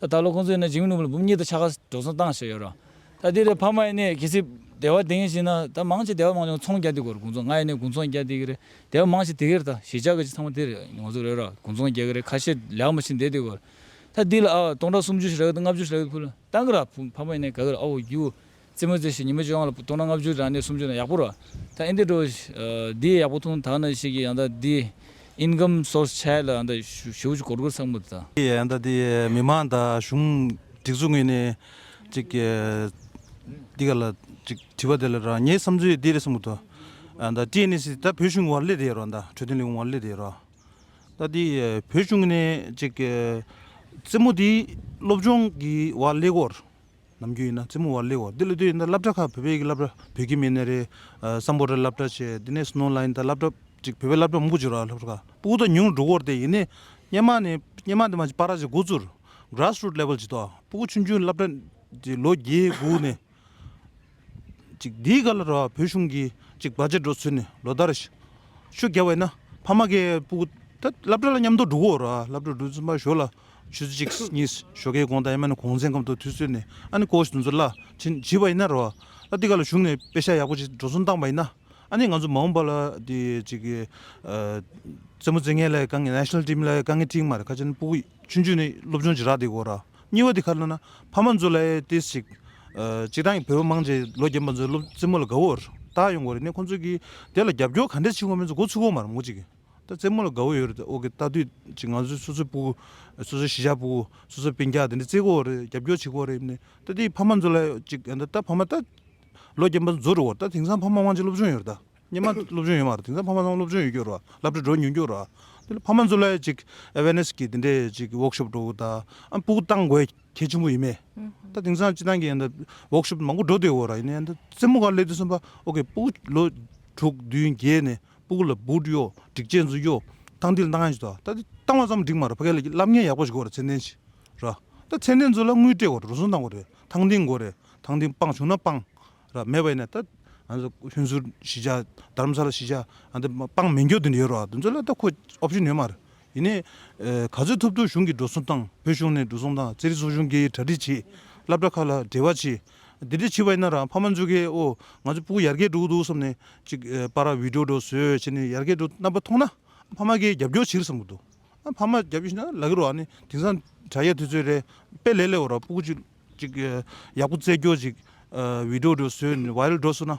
ད་ལྟ་ལོ་ཁོང་ཚོས་ནི་འཇིགས་ནུབ་ལ་འབུམ་གཉིས་དང་ཆ་ག་འགྲོ་སོང་བཏང་བཞིན་ཡོད་རུང། ད་དེ་རེད་ཕ་མ་ཡིན་ནས་གལ་སྲིད་སྡེ་བ་དེ་ངས་བྱས་ན་ད་མང་ཆེ་སྡེ་བ་མང་ཆེ་ཚོང་རྒྱ་དེ་གོ་རེད་དགུང་ཚོང་ང་ཡིན་ནས་དགུང་ཚོང་རྒྱ་དེ་གི་རེད་སྡེ་བ་མང་ཆེ་དེ་གི་རེད་ད་གཞིས་ཆགས་ཀྱི་ཚང་མ་དེ་རེད་ངོ་ཚོ་རེད་ར་དགུང་ཚོང་རྒྱ་གི་རེད་ཁ་ཤས་ལེགས་མ་ཕྱིན་དེ་དེ་གོ་རེད་ད་འདི་ལ་ཨ་ཨོ་སྟོང་ཕྲག་སུམ་ཅུ་ཞིག་རག་གི་འདུག་ལྔ་བཅུ་ཞིག་རག་གི་འདུག་ཕུལ་ལ་བཏང་གི་ར་ཕ་མ་ཡིན་ནས་ག་གི་རེད་ཨོ་ཡུ། རྩེད་མོ་རྩེ་ཞིང་ཉི་མ་བཅོ་ལྔ་ལ་བཏུང་ན་ལྔ་བཅུ་དང་ནི་སུམ་བཅུ་ན་ཡག་པོ་རོ། ད་ཨིན་དེ་འགྲོ། འདི་ཡག་པོ་ཐུང་དག་ན་ཤེས་ཀྱི་ཡང་ད་འདི Income Source Chai ལ་ཡང་ད་ཞུ་བྱུ་གོར་གོར་ཚང་མ་ད། འདི་ཡང་ད་འདི་མི་མང་དང་གཞུང་སྒྲིག་ཚུགས་ངེས་ནི་ཅིག་གི། འདི་ག་ལ་ཅིག་དྲི་བ་དེ་ལ་རང་ངའི་བསམ་ཚུལ་འདི་རེད་གསུང་གི་འདུག་ད་ཀྲི་ནི་སི་ད་བོད་གཞུང་ཝར་ལི་རེད་རོ་ད་འཕྲོད་བསྟེན་ལི་ཝར་ལི་རེད་རོ། ད་འདི་བོད་གཞུང་ནི་ཅིག་གི། རྩེད་མོ་འདི་སློབ་སྦྱོང་གི་ཝར་ལི་གོར། ནམ་རྒྱུན་ཡིན་ན་རྩེད་མོ་བར་སླེ་བར་འདི་ལ་དུས་ཡིན་ད་སླབ་གྲྭ་ཁག་བོད་པའི་གི་སླབ་གྲྭ་བོད་ཀྱི་མི་ནས་རེད་བསམ་པོ་རེ་སླབ་གྲྭ་བྱས་དེ་ནས་སྣོ་ལ་ཡིན་ད་སླབ་གྲྭ་གཅིག་བོད་པའི་སླབ་གྲྭ་མང་པོ་བྱས་རོགས་སླབ་གྲྭ་ཁག་སྤུ་གུ་ད་ཉུང་རུ་འགྲོ་གོར་དེ་ཡིན་ནས་སྙན་མ་ནས་སྙན་མ་དེ་མ་བྱས་པ་ར་བྱས་འགོ་ཚུར grass root level བྱས་ཏོ་སྤུ་གུ་ཆུང་ཆུང་སླབ་གྲྭ་དེ་ལོ་བརྒྱད་དགུ་ནས་གཅིག་དེའི་ག་ལ་རོགས་བོད་གཞུང་གི་གཅིག་བར་ཆད་འགྲོ་ཚུལ་ནས་ལོ་ཟླ་རེ་ཤུགས་རྒྱབ་བས་ན་ཕ་མ་གི་སྤུ་གུ་ད་སླབ་གྲྭ་ལ་མཉམ་དུ་འགྲོ་གོ་རོགས་སླབ་གྲྭ་འགྲོ་ཚུལ་མ་ཞོར་ལ། ཆུ་གཅིག་གཉིས་ཞོ་ཁའི་གོང་དང་ཡང་མེད་ན་གོང་ཚན་སྐབས་འདུག་དུས་ཚོད་ནས་ཨ་ནི་ཀོའོ་ཞིག་འདུག་ཚོད་ལ་བྱིན་བྱིས་པ་ཡིན་ན་རོ། ཨ་ཏི་ཀ་ལ་བཞུགས་ནས་དཔེ་ཤ་ཡག་པོ་ཞིག་འགྲོ་སོང་བཏང་བ་ཡིན་ན་ཨ་ནི་ང་ཚོ་མ་འོངས་པ་ལ་དེ་ཅིག་གི་རྩེད་མོ་རྩེད་མཁན་ལ་དཀའ་ངལ national team ལ་དཀའ་ངལ་ཐིག་མ་རེད་ཁ་ཆེན་པུའུ་ཆུང་ཆུང་ནས་སློབ་སྦྱོང་བྱེད་རག་དེ་གོ་ར་གཉིས་པ་དེ་ཁ་ལོ་ན་ཕ་མ་ཚོ་ལ་ཏིས་ཅིག་ཅིག་རང་གི་བོད་པ་མང་ཆེ་ལོ་རྒན་པ་ཚོ་སློབ་རྩེད་མོ་ལ་དགའ་བོ་རག་ཡོང་གོ་རེ་ནས་ཁོ་ཚོ་གི་དེ་ལ་རྒྱབ་སྐྱོར་ག་འདྲ་བྱེད་དགོས་མིན་ཚོ་གོ་ཚུགས་གོ་མ་རུང་གོ་ཅིག་གི། ད་རྩེད་མོ་ལ་དགའ་བོ་ཡོད་རེད་ཨོ་ཁེ་ལྟ་དུས་ཀྱི་ང་ཚོའི་སོ་སོའི་སྤུ་གུ། སོ་སོའི་གཞིས་ཆགས་སྤུ་གུ། སོ་སོའི་བན་སྐྱག་དེ་འདྲ་རྩེད་གོ་རེད་རྒྱབ་སྐྱོར་བྱེད་གོ་རེད་ནི། ད་དེའི་ཕ་མ་ཚོ་ལ་ཅིག་ཨ་ད་ཕ་མ་ད། ལོ་བརྒྱད་པ་འཛོ་རུ་འོ་ད་དེང་སང་ཕ་མ་དབང་ཆེན་སློབ་ཆུང་ཡོད་རེད་ད། སྙེ་མ་སློབ་ཆུང་ཡོད་མ་རེད་དེང་སང་ཕ་མ་ཚང་སློབ་ཆུང་ཡོད་རྒྱུ་རུ་བ་ལབ་དྲ་འགྲོ་ཉུང་རྒྱུ་རུ་བ། དེ་ལ་ཕ་མ་ཚོ་ལ་ཅིག awareness གི་དེ་འདྲའི་ཅིག work shop འགྲོ་དང་ཨ་སྤུ་གུ་བཏང་དགོས་གལ་ཆེན་པོ་ཡིན་མེད། ད་དེང་སང་སྤྱི་བཏང་གི་ཨ་ད work shop མང་པོ་འགྲོ་སྡོད་གོ་ར་ཡིན་ནི་ཨ་ད་རྩེད་མོ་ག་ལས་དུས་གསུམ་པ་ཨོ་ཁེ་སྤུ་གུ་ལོ་དྲུག་བདུན་བརྒྱད་ནི། སྤུག་ལ་སྦུག་གཡོ། སྒྲིག་ཆས་མཛུབ་གཡོ། སྟངས་འདིར་སྟངས་ཡོད། ད་ལྟ་བཏང་བ་ཙམ་འགྲིག་མ་རེད་ཕ་གས་ལ་བསླབ་གཉེར་ཡག་པོ་ཞིག་དགོས་རེད་ཚད་ལྡན་ཞིག་རེད། ད་ཚད་ལྡན་ཚོ་ལ་དངུལ་སྤྲད་དགོས་རེད་རུལ་སུངས་གཏང་དགོས་རེད་ཐང་འདིང་དགོས་རེད་ཐང་འདིང་སྤང་བྱུང་ན་སྤང། རེད་མེད་པ་ཡིན་ན་ད། ཧུན་སུར་གཞིས་ཆགས་དར་མ་ས་ལ་གཞིས་ཆགས་ཨ་འདི་སྤང་མི་འགྱོ་དེ་འདྲ་ཡོད་རོགས་དེ་ཚོ་ལ་ད་ཁོ option ཡོད་མ་རེད། ཡིན་ནའི། ག་ཚོད་ཐུབ་ཐུབ་གཞུང་གིས་འགྲོ་སོང་བཏང་བོད་གཞུང་ནས་འགྲོ་སོང་བཏང་ཙེ་རི་སོགས་གཞུང་སྒེར་གྱིས་གྲ་སྒྲིག་བྱེད། སླབ་གྲ་ཁག་ལ་འབྲེལ་བ་བྱེད། འདི་འདྲའི་བྱིས་པ་ཡིན་ན་རང་ཕ་མ་འཇུ་ཁའི་འོ། ང་ཚོའི་སྤུ་གུ་ཡར་རྒྱས་འགྲོ་གི་འདུག་བསམ་ནས་ཅིག་པ་ར་བིད་འགྲོ་འགྲོ་ཟོས་བྱས་ནས་ཡར་རྒྱས་འགྲོ་རྣམ་པ་མཐོང་ན། ཕ་མ་ཁའི་རྒྱབ་སྐྱོར་ཕྱིར་བསམ་གི་འདུག་ཨ་ཕ་མ་རྒྱབ་སྐྱོར་ཕྱིར་ན་ལ་ཁའི་རོ་ཨ་ནི་དེང་སང་དྲ་ཡས་དུས་ཚོད་རེད་དཔེ་ལེགས་ལེགས་འོ་ར་སྤུ་གུ་ཅིག་ཅིག་ཡག་པོ་བཙལ་རྒྱོ་ཅིག་བིད་འགྲོ་འགྲོ་ཟོས་ནས་བ་ཡལ་འགྲོ་སོང་ན།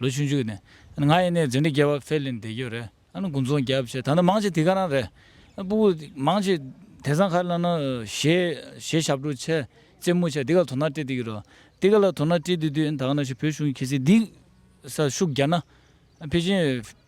ལོ་བཅུ་མཇུག་ནས་ང་ཡེ་ནས་རྫུན་འདྲི་རྒྱལ་བ་ཕེ་ལིན་བདེ་སྐྱོ་རེད་ཨ་ན་དགུན་ཚོང་རྒྱབ་བྱས་ད་ནི་མང་ཆེ་དེ་ག་རང་རེད་སྤུ་གུ་མང་ཆེ་དེ་སང་ཁ་ལ་ན་ཞེས་ཞབས་བྲོ་ཆེ་རྩེད་མོ་ཆེ་དེ་ག་ལ་དོ་སྣང་སྤྲད་དེ་གི་རོ་དེ་ག་ལ་དོ་སྣང་སྤྲད་དུས་དུས་ད་ག་ན་ཞིག་བོད་གཞུང་གི་ཁྱེད་སི་འདི་ས་ཤུགས་རྒྱ་ན་ཕེ་ཅིན།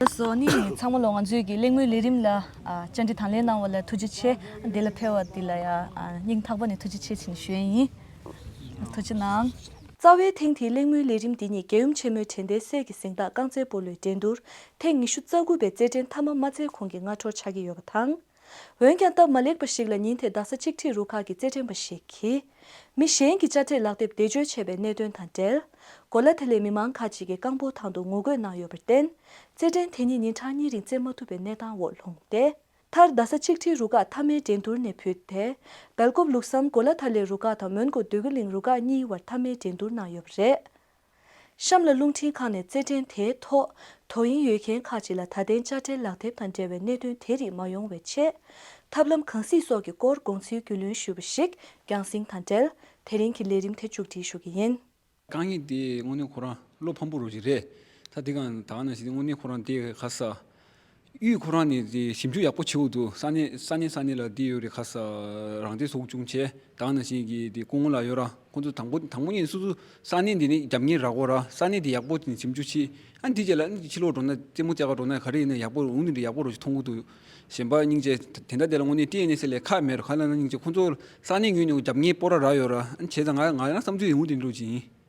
ལགས་སོ་ནི་ངས་ཚང་མ་ལོ་ང་ཚོས་ཀྱི་གླེང་མོལ་ལས་རིམ་ལ་བཅར་འདྲི་དང་ལེན་གནང་བ་ལ་ཐུགས་རྗེ་ཆེ་འདི་ལ་ཕེར་བ་འདི་ལ་ཡང་སྙིང་ཐག་པ་ནས་ཐུགས་རྗེ་ཆེ་ཆེ་ནས་ཞུ་ཡས་ཡིན་ཐུགས་རྗེ་གནང། རྩ་བའི་ཐེངས་དེའི་གླེང་མོལ་ལས་རིམ་འདི་ཉིད་རྒྱལ་ཡུམ་ཆེན་མོའི་དྲན་རྟེན་གསེར་གྱི་གཟེངས་རྟགས་རྐང་རྩེད་སྤོ་ལོའི་འགྲན་བསྡུར་ཐེངས་ཉི་ཤུ་རྩ་དགུ་པའི་རྩེད་འགྲན་མཐའ་མ་མ་རྩེ་གོང་གི་སྔ་དྲོར་ཆགས་ཀྱི་ཡོད་པ་དང། འོན་ཀྱང་སྟབས་མ་ལེགས་པ་ཞིག་ལ་ཉིན་དེར་རྡ་ས་གཅིག་ཁྲིད་རུ་ཁག་གི་རྩེད་འགྲན་པ་ཞིག་གིས། མི་གཞན་གྱི་དཔྱ་ཁྲལ་ལག་དེབ་བདེ་འཇོལ་བྱས་པའི་གནད་དོན་དང་འབྲེལ། གོ་ལ་དེ་ལས་མི་མང་ཁག་ཅིག་གིས་རྐང་སྤོལ་ཐང་དུ་ངོ་རྒོལ་གནང་ཡོད་པར་བརྟེན། རྩེད་འགྲན་དེ་ཉིད་ཉིན་གྲངས་གཉིས་རིང་རྩེ་མ་ཐུབ་པའི་གནས་སྟངས་འོག་ལྷུང་སྟེ། མཐར་རྡ་ས་གཅིག་ཁྲིད་རུ་ཁག་མཐའ་མའི་འགྲན་སྡུར་ནས་བུད་དེ། སྦེལ་ཀོབ་ལུགས་བསམ་གོ་ལ་ཐར་ལེ་རུ་ཁག་དང་མོན་གོ་འདོད་རྒུ་གླིང་རུ་ཁག་གཉིས་དབར་མཐའ་མའི་འགྲན་སྡུར་གནང་ཡོད་པ་རེད། གཤམ་ལ་རླུང་འཕྲིན་ཁང་ནས་རྩེད་འགྲན་དེའི་ཐོག་དོ་དབྱིངས་ཡོད་མཁན་ཁག་ཅིག་ལ་ད་ལྟའི་དཔྱ་ཁྲལ་ལག་དེབ་དང་འབྲེལ་བའི་གནད་དོན་དེ་རིགས་མ་ཡོང་བའི་ཆེད། ཐབས་ལམ་གང་སྲིད་སོགས་ཀྱི་སྐོར་དགོངས་ཚུལ་རྒྱུས་ལོན་ཞུས་པ་ཞིག་རྒྱང་བསྲིང་དང་འབྲེལ་དེ་རིང་གི་ལས་རིམ་དེ་མཇུག་སྒྲིལ་ཞུ་གི་ཡིན། རྐང་གཉིས་དེ་དངོས་གནས་ཁོ་རང་བློ་ཕམ་པོ་རུ་ཞིག་རེད། ད་དེ་གང་དག་ན་ཞིག་དེ་དངོས་གནས་ཁོ་རང་དེ་ག་ས། གཡུས་ཁོ་རང་ནས་ཞིབ་འཇུག་ཡག་པོ་བྱེད་འོག་ཏུ་ས་གནས་ས་གནས་ས་གནས་ལ་དེ་ཡོད་རེད་ཁ་ས་རང་བདེ་སོགས་ཅུང་ཆེ་དག་ན་ཞིག་གི་དེ་སྐུ་ངོ་ལ་ཡོད་ར་ཁོང་ཚོ་དང་པོ་དང་པོ་ཉིད་སོ་སོ་ས་གནས་འདི་ནས་རྒྱབ་གཉེར་རག་གོ་ར་ས་གནས་དེ་ཡག་པོ་ཞིབ་འཇུག་བྱས་ཨ་འདི་བྱས་ལ་ཨ་ཕྱི་ལོག་འགྲོ་ན་རྩེད་མོ་རྩེ་ག་འགྲོ་ན་ག་རེ་ཡིན་ན་ཡག་པོ་འོང་ནི་རེད་ཡག་པོ་རོགས་ཞིག་མཐོང་འོག་ཏུ་གཞན་པ་སྙིང་རྗེ་དེ་འདྲ་དེ་ལ་དངོས་གནས་ཏི་ཨེ་ནེ་སི་ལས་ཁག་མེད་ར་ཁ་ལ་ན་སྙིང་རྗེ་ཁོང་ཚོ་ས་གནས་ངོས་ནས་རྒྱབ་གཉེར་སྤོ་ར་རག་ཡོད་ར་ཨ་བྱས་ཙང་ང་ང་རང་བསམ་ཚུལ་ཡིན་འོང་དེ་འགྲོ་བྱེད་ཡིན།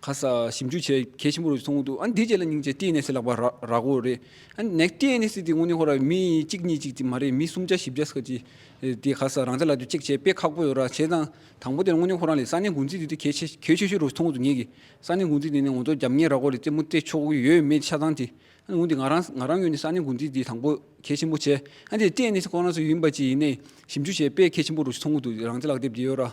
ཁ་གསལ་ཞིབ་འཇུག་བྱེད་གལ་ཆེན་པོ་རེད་མཐོང་གི་འདུག་ཨ་འདི་བྱས་ལ་སྙིང་རྗེ་ལྟས་ནས་སེ་ལག་པ་རག་གོ་རེད་ཨ་ནེ་ལྟས་ནས་སེ་དེ་དངོས་གནས་ཧོ་ར་མི་གཅིག་གཉིས་གཅིག་མ་རེད་མི་གསུམ་བརྒྱ་བཞི་བརྒྱ་ས་ཅི་དེ་ག་ས་རང་བྱས་ལ་དུ་གཅིག་བྱས་པས་ཁག་པོ་ཡོད་ར་བྱས་ཙང་དང་པོ་དེ་དངོས་གནས་ཁོ་རང་ལས་ས་གནས་འགོ་འཛིན་དེ་དེ་གལ་ཆེ་གལ་ཆེ་ཤོས་རུ་མཐོང་གི་འདུག་ངེད་ཀྱི་ས་གནས་འགོ་འཛིན་དེ་ནས་ངོ་མཚོ་རྒྱབ་ངེས་རག་གོ་རེད་རྩེད་མོ་རྩེད་ཆོག་གི་ཡོད་མེད་ཆ་ཚང་དེ་ཨ་ནེ་འོན་ཏེ་ང་རང་ང་རང་ཡོད་ནས་ས་གནས་འགོ་འཛིན་དེ་དང་པོ་གལ་ཆེན་པོ་བྱས་ཨ་འདི་ལྟས་ནས་སེ་ཁོ་རང་སུ་ཡིན་པ་ཅི་ཡིན་ནས་ཞིབ་འཇུག་བྱས་པས་གལ་ཆེན་པོ་རུ་མཐོང་གི་འདུག་རང་བྱས་ལག་དེབ་དེ་ཡོད་ར།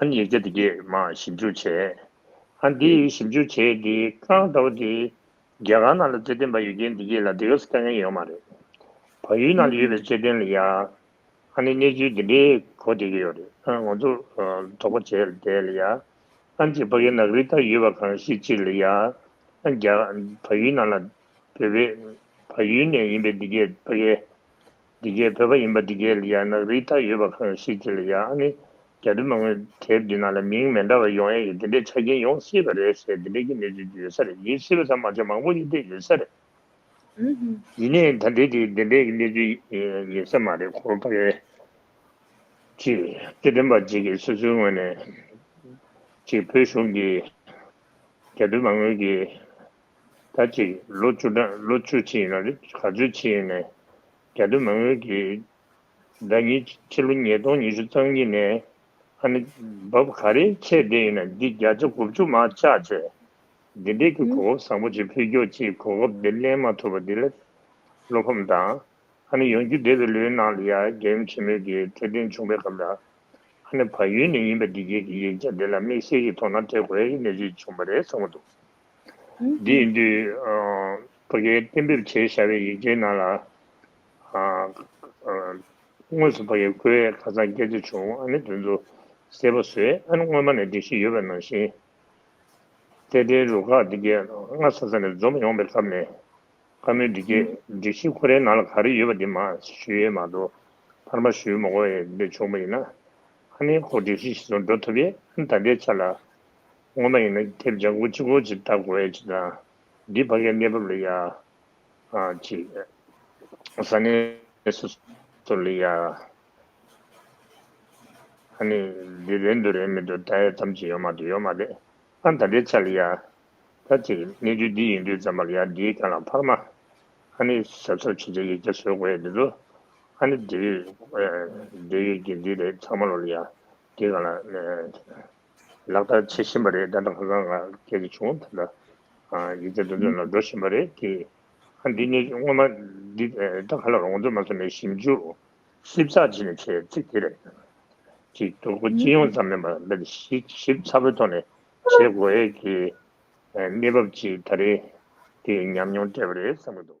ཨ་ནི་ཡིག་ཆ་དེ་གས་མ་ཞིབ་འཇུག་བྱས། ཨ་འདི་ཡིག་ཞིབ་འཇུག་བྱས་དེ་ཀང་ལྟ་བུ་དེ། རྒྱ་གར་ནང་ལ་རྩོད་དོན་བ་ཡོད་རྐྱེན་འདི་གས་ལ་དེ་གས་སུ་ལྟ་མཁན་ཡོད་མ་རེད། བ་ཡུལ་ནང་ལ་ཡོད་པའི་རྩོད་དོན་ལ་ཡ། ཨ་ནི་གནས་ཚུལ་འདི་འདྲའི་གོ་དེ་གས་ཡོད་རེད་ཨ་ང་ཚོ་དོག་པ་བྱས་བསྡད་ལ་ཡ། ཨ་འདི་བ་གས་ནག་རིལ་ལྟར་ཡོད་བ་གང་ཤེས་ཅིག་ལ་ཡ། ཨ་རྒྱ། བ་ཡུལ་ནང་ལ་བོད་པའི། བ་ཡུལ་ནས་ཡིན་པའི་འདི་གས་བ་གས། འདི་སྐད་བོད་པ་ཡིན་པ་འདི་སྐད་ལ་ཡང་ནག་རིལ་དག་ཡོད་པ་གང་ཞིག་གི་ལ་ཡང་ཨ་ནི་རྒྱ་དྲི་མ་ངོས་དེའི་མདུན་ན་ལ་མིང་མེ་འདྲ་བ་ཡོང་ཡ་ཡི་འདི་འདྲའི་ཆ་རྐྱེན་ཡོང་སྲིད་པ་རེད་ཟེར་འདི་འདྲའི་གི་གནས་ཚུལ་གི་ཡོད་ས་རེད་ཡིན་སྲིད་པ་ཚང་མ་ཆ་མང་པོ་ཡིན་འདྲའི་ཡོད་ས་རེད། ཡིན་ནའི་ད་འདྲའི་གི་འདི་འདྲའི་གི་གནས་ཚུལ་ཡིན་ས་མ་རེད་ཁོ་པ་རེད། ཅི་སྟེ་དྲན་པ་གཅིག་གི་སོ་སོའི་ངོས་ནས་ཅིག་བོད་གཞུང་གི་རྒྱ་དྲི་མ་ངོས་གི་ད་ཅིག་ལོ་བཅུ་གྲངས་ལོ་བཅུ་ཕྱིན་ན་རེ་ག་ཚོད་ཕྱིན་ནས་རྒྱ་སྟོད་མ་དངུལ་གྱི་ཟླ་གཉིས་ཕྱི་ལོ་ཉིས་སྟོང་ཉི་ཤུ་རྩང་གཉིས་ནས་ཨ་ནི་བབ་ག་རེ་ཆད་དེ་ཡིན་ན་འདི་བརྒྱ་ཆ་དགུ་བཅུ་མ་ཆག་ཆེ་འདི་འདྲས་ཀྱི་གོ་སྐབས་བཟང་པོ་ཅིག་ཕུལ་འགྱོག་ཅིག་གོ་སྐབས་འདི་གླེང་མ་ཐུབ་པ་འདི་ལས་བློ་ཕམ་དང་ཨ་ནི་ཡོང་རྒྱུ་བདེ་བའི་ལོའི་ནང་ལ་ཡ་རྒྱལ་ཡུམ་ཆེན་མོའི་གི་འཕྲོད་བསྟེན་བྱུང་པའི་སྐབས་ལ་ཨ་ནི་བ་ཡུལ་ནས་ཡིན་པ་འདི་བརྒྱད་ཀྱི་ཡིག་ཆ་འདི་ལ་དམིགས་བསལ་གྱི་དོ་སྣང་སྤྲད་དགོས་ཡའི་གནས་ཚུལ་བྱུང་བ་རེད་གསུངས་པ་འདུག་དེའི་དུས། བོད་སྐད་གཏན་འབེབས་བྱེད་བྱ་བའི་ཡིག་ཆའི་ནང་ལ། དངོས་སུ་བོད་ཡིག་བཀོལ་བའི་ཁ་སང་སྐད་ཆ་བྱུང་ཨ་ནི་དོན་ཚོ་གསལ་པོ་བཟོས་ཨ་ནི་སྔོན་མ་ནས་སྒྲིག་གཞི་ཡོད་པ་ནང་བཞིན། རྩེད་འགྲན་རུ་ཁག་འདི་གས་སྔ་ས་ས་ནས་འཛོམས་ཡོང་པའི་སྐབས་ནས་བཀའ་མོལ་འདི་གས་སྒྲིག་གཞི་ཁོ་རའི་ནང་ལ་ག་རེ་ཡོད་པ་དེ་མ་ཞུས་ཡས་མ་གཏོགས་ཕར་མ་ཞུས་མོ་གོ་ཡས་འདི་བྱུང་པ་ཡིན་ན་ཨ་ནི་ཁོ་སྒྲིག་གཞི་ཞིག་ཚོ་འགྲོ་ཐུབ་ཡས་ཨ་ནི་ད་ལྟའི་ཆ་ལ་སྔོན་མ་ཡིན་ན་ཁྱེད་ལྗང་ཁུ་ཅི་གོ་ཅི་ལྟ་གོ་ཨེ་ཅི་དང། འདི་ཕ་གའི་གནས་བབ་ལ་ཡ། ཅི། ས་གནས་སོ་སོ་ལ་ཡ། ཨ་ནི་འདི་རེད་འདུག་རེད་མི་འདུག་ད་ཡ་ཐམས་ཅད་ཡོད་མ་འདུག་ཡོད་མ་རེད། ཨ་ད་ལྟའི་ཆ་ལ་ཡ། ད་ཅི། གནས་ཚུལ་འདི་ཡིན་དུས་ཙམ་མ་ལ་ཡ་འདིའི་སྐྱོན་ལ་འཕར་མ། ཨ་ནི་ཟབ་ཟབ་ཆེ་ཆེ་ཡིག་ཆ་བཟོས་གོ་ཨེ་འདི་འདུག། ཨ་ནི་འདི། འདི་ཡིག་འདི་རེད་ཚང་མ་ལོ་ལ་ཡ། འདི་གང་ལ། ལག་བསྟར་བྱེད་བཞིན་པ་རེད་ད་ལྟ་ཧ་ལམ་ང་ཁྱེད་ཀྱི་བྱུང་ད་ལྟ་ཡིག་ཆ་འདོན་སྤེལ་ནང་འགྲོ་བཞིན་པ་རེད་དེ། ཧ་འདི་གནས་ཚུལ་དངོས་མ་འདི་ད་ག་ལ་རུང་ང་ཚོ་མ་སོ་ནས་ཞིབ་འཇུག་ཞིབ་ཚགས་བྱེད་ནས་བྱས་ཚིག་དེ་རེད། གཅིག་ཐོར་བུ་སྤྱི་ཡོངས་ཙམ་མིན་པར་འདི་ནི་ཞིབ་ཞིབ་ཚགས་པོའི་ཐོག་ནས་བྱེད་དགོས་ཡས་ཀྱི་གནས་བབ་ཅིག་ད་རེད་དེ་ཉམས་མྱོང་སྤྲད་པ་རེད་བསམ་གྱི་འདུག།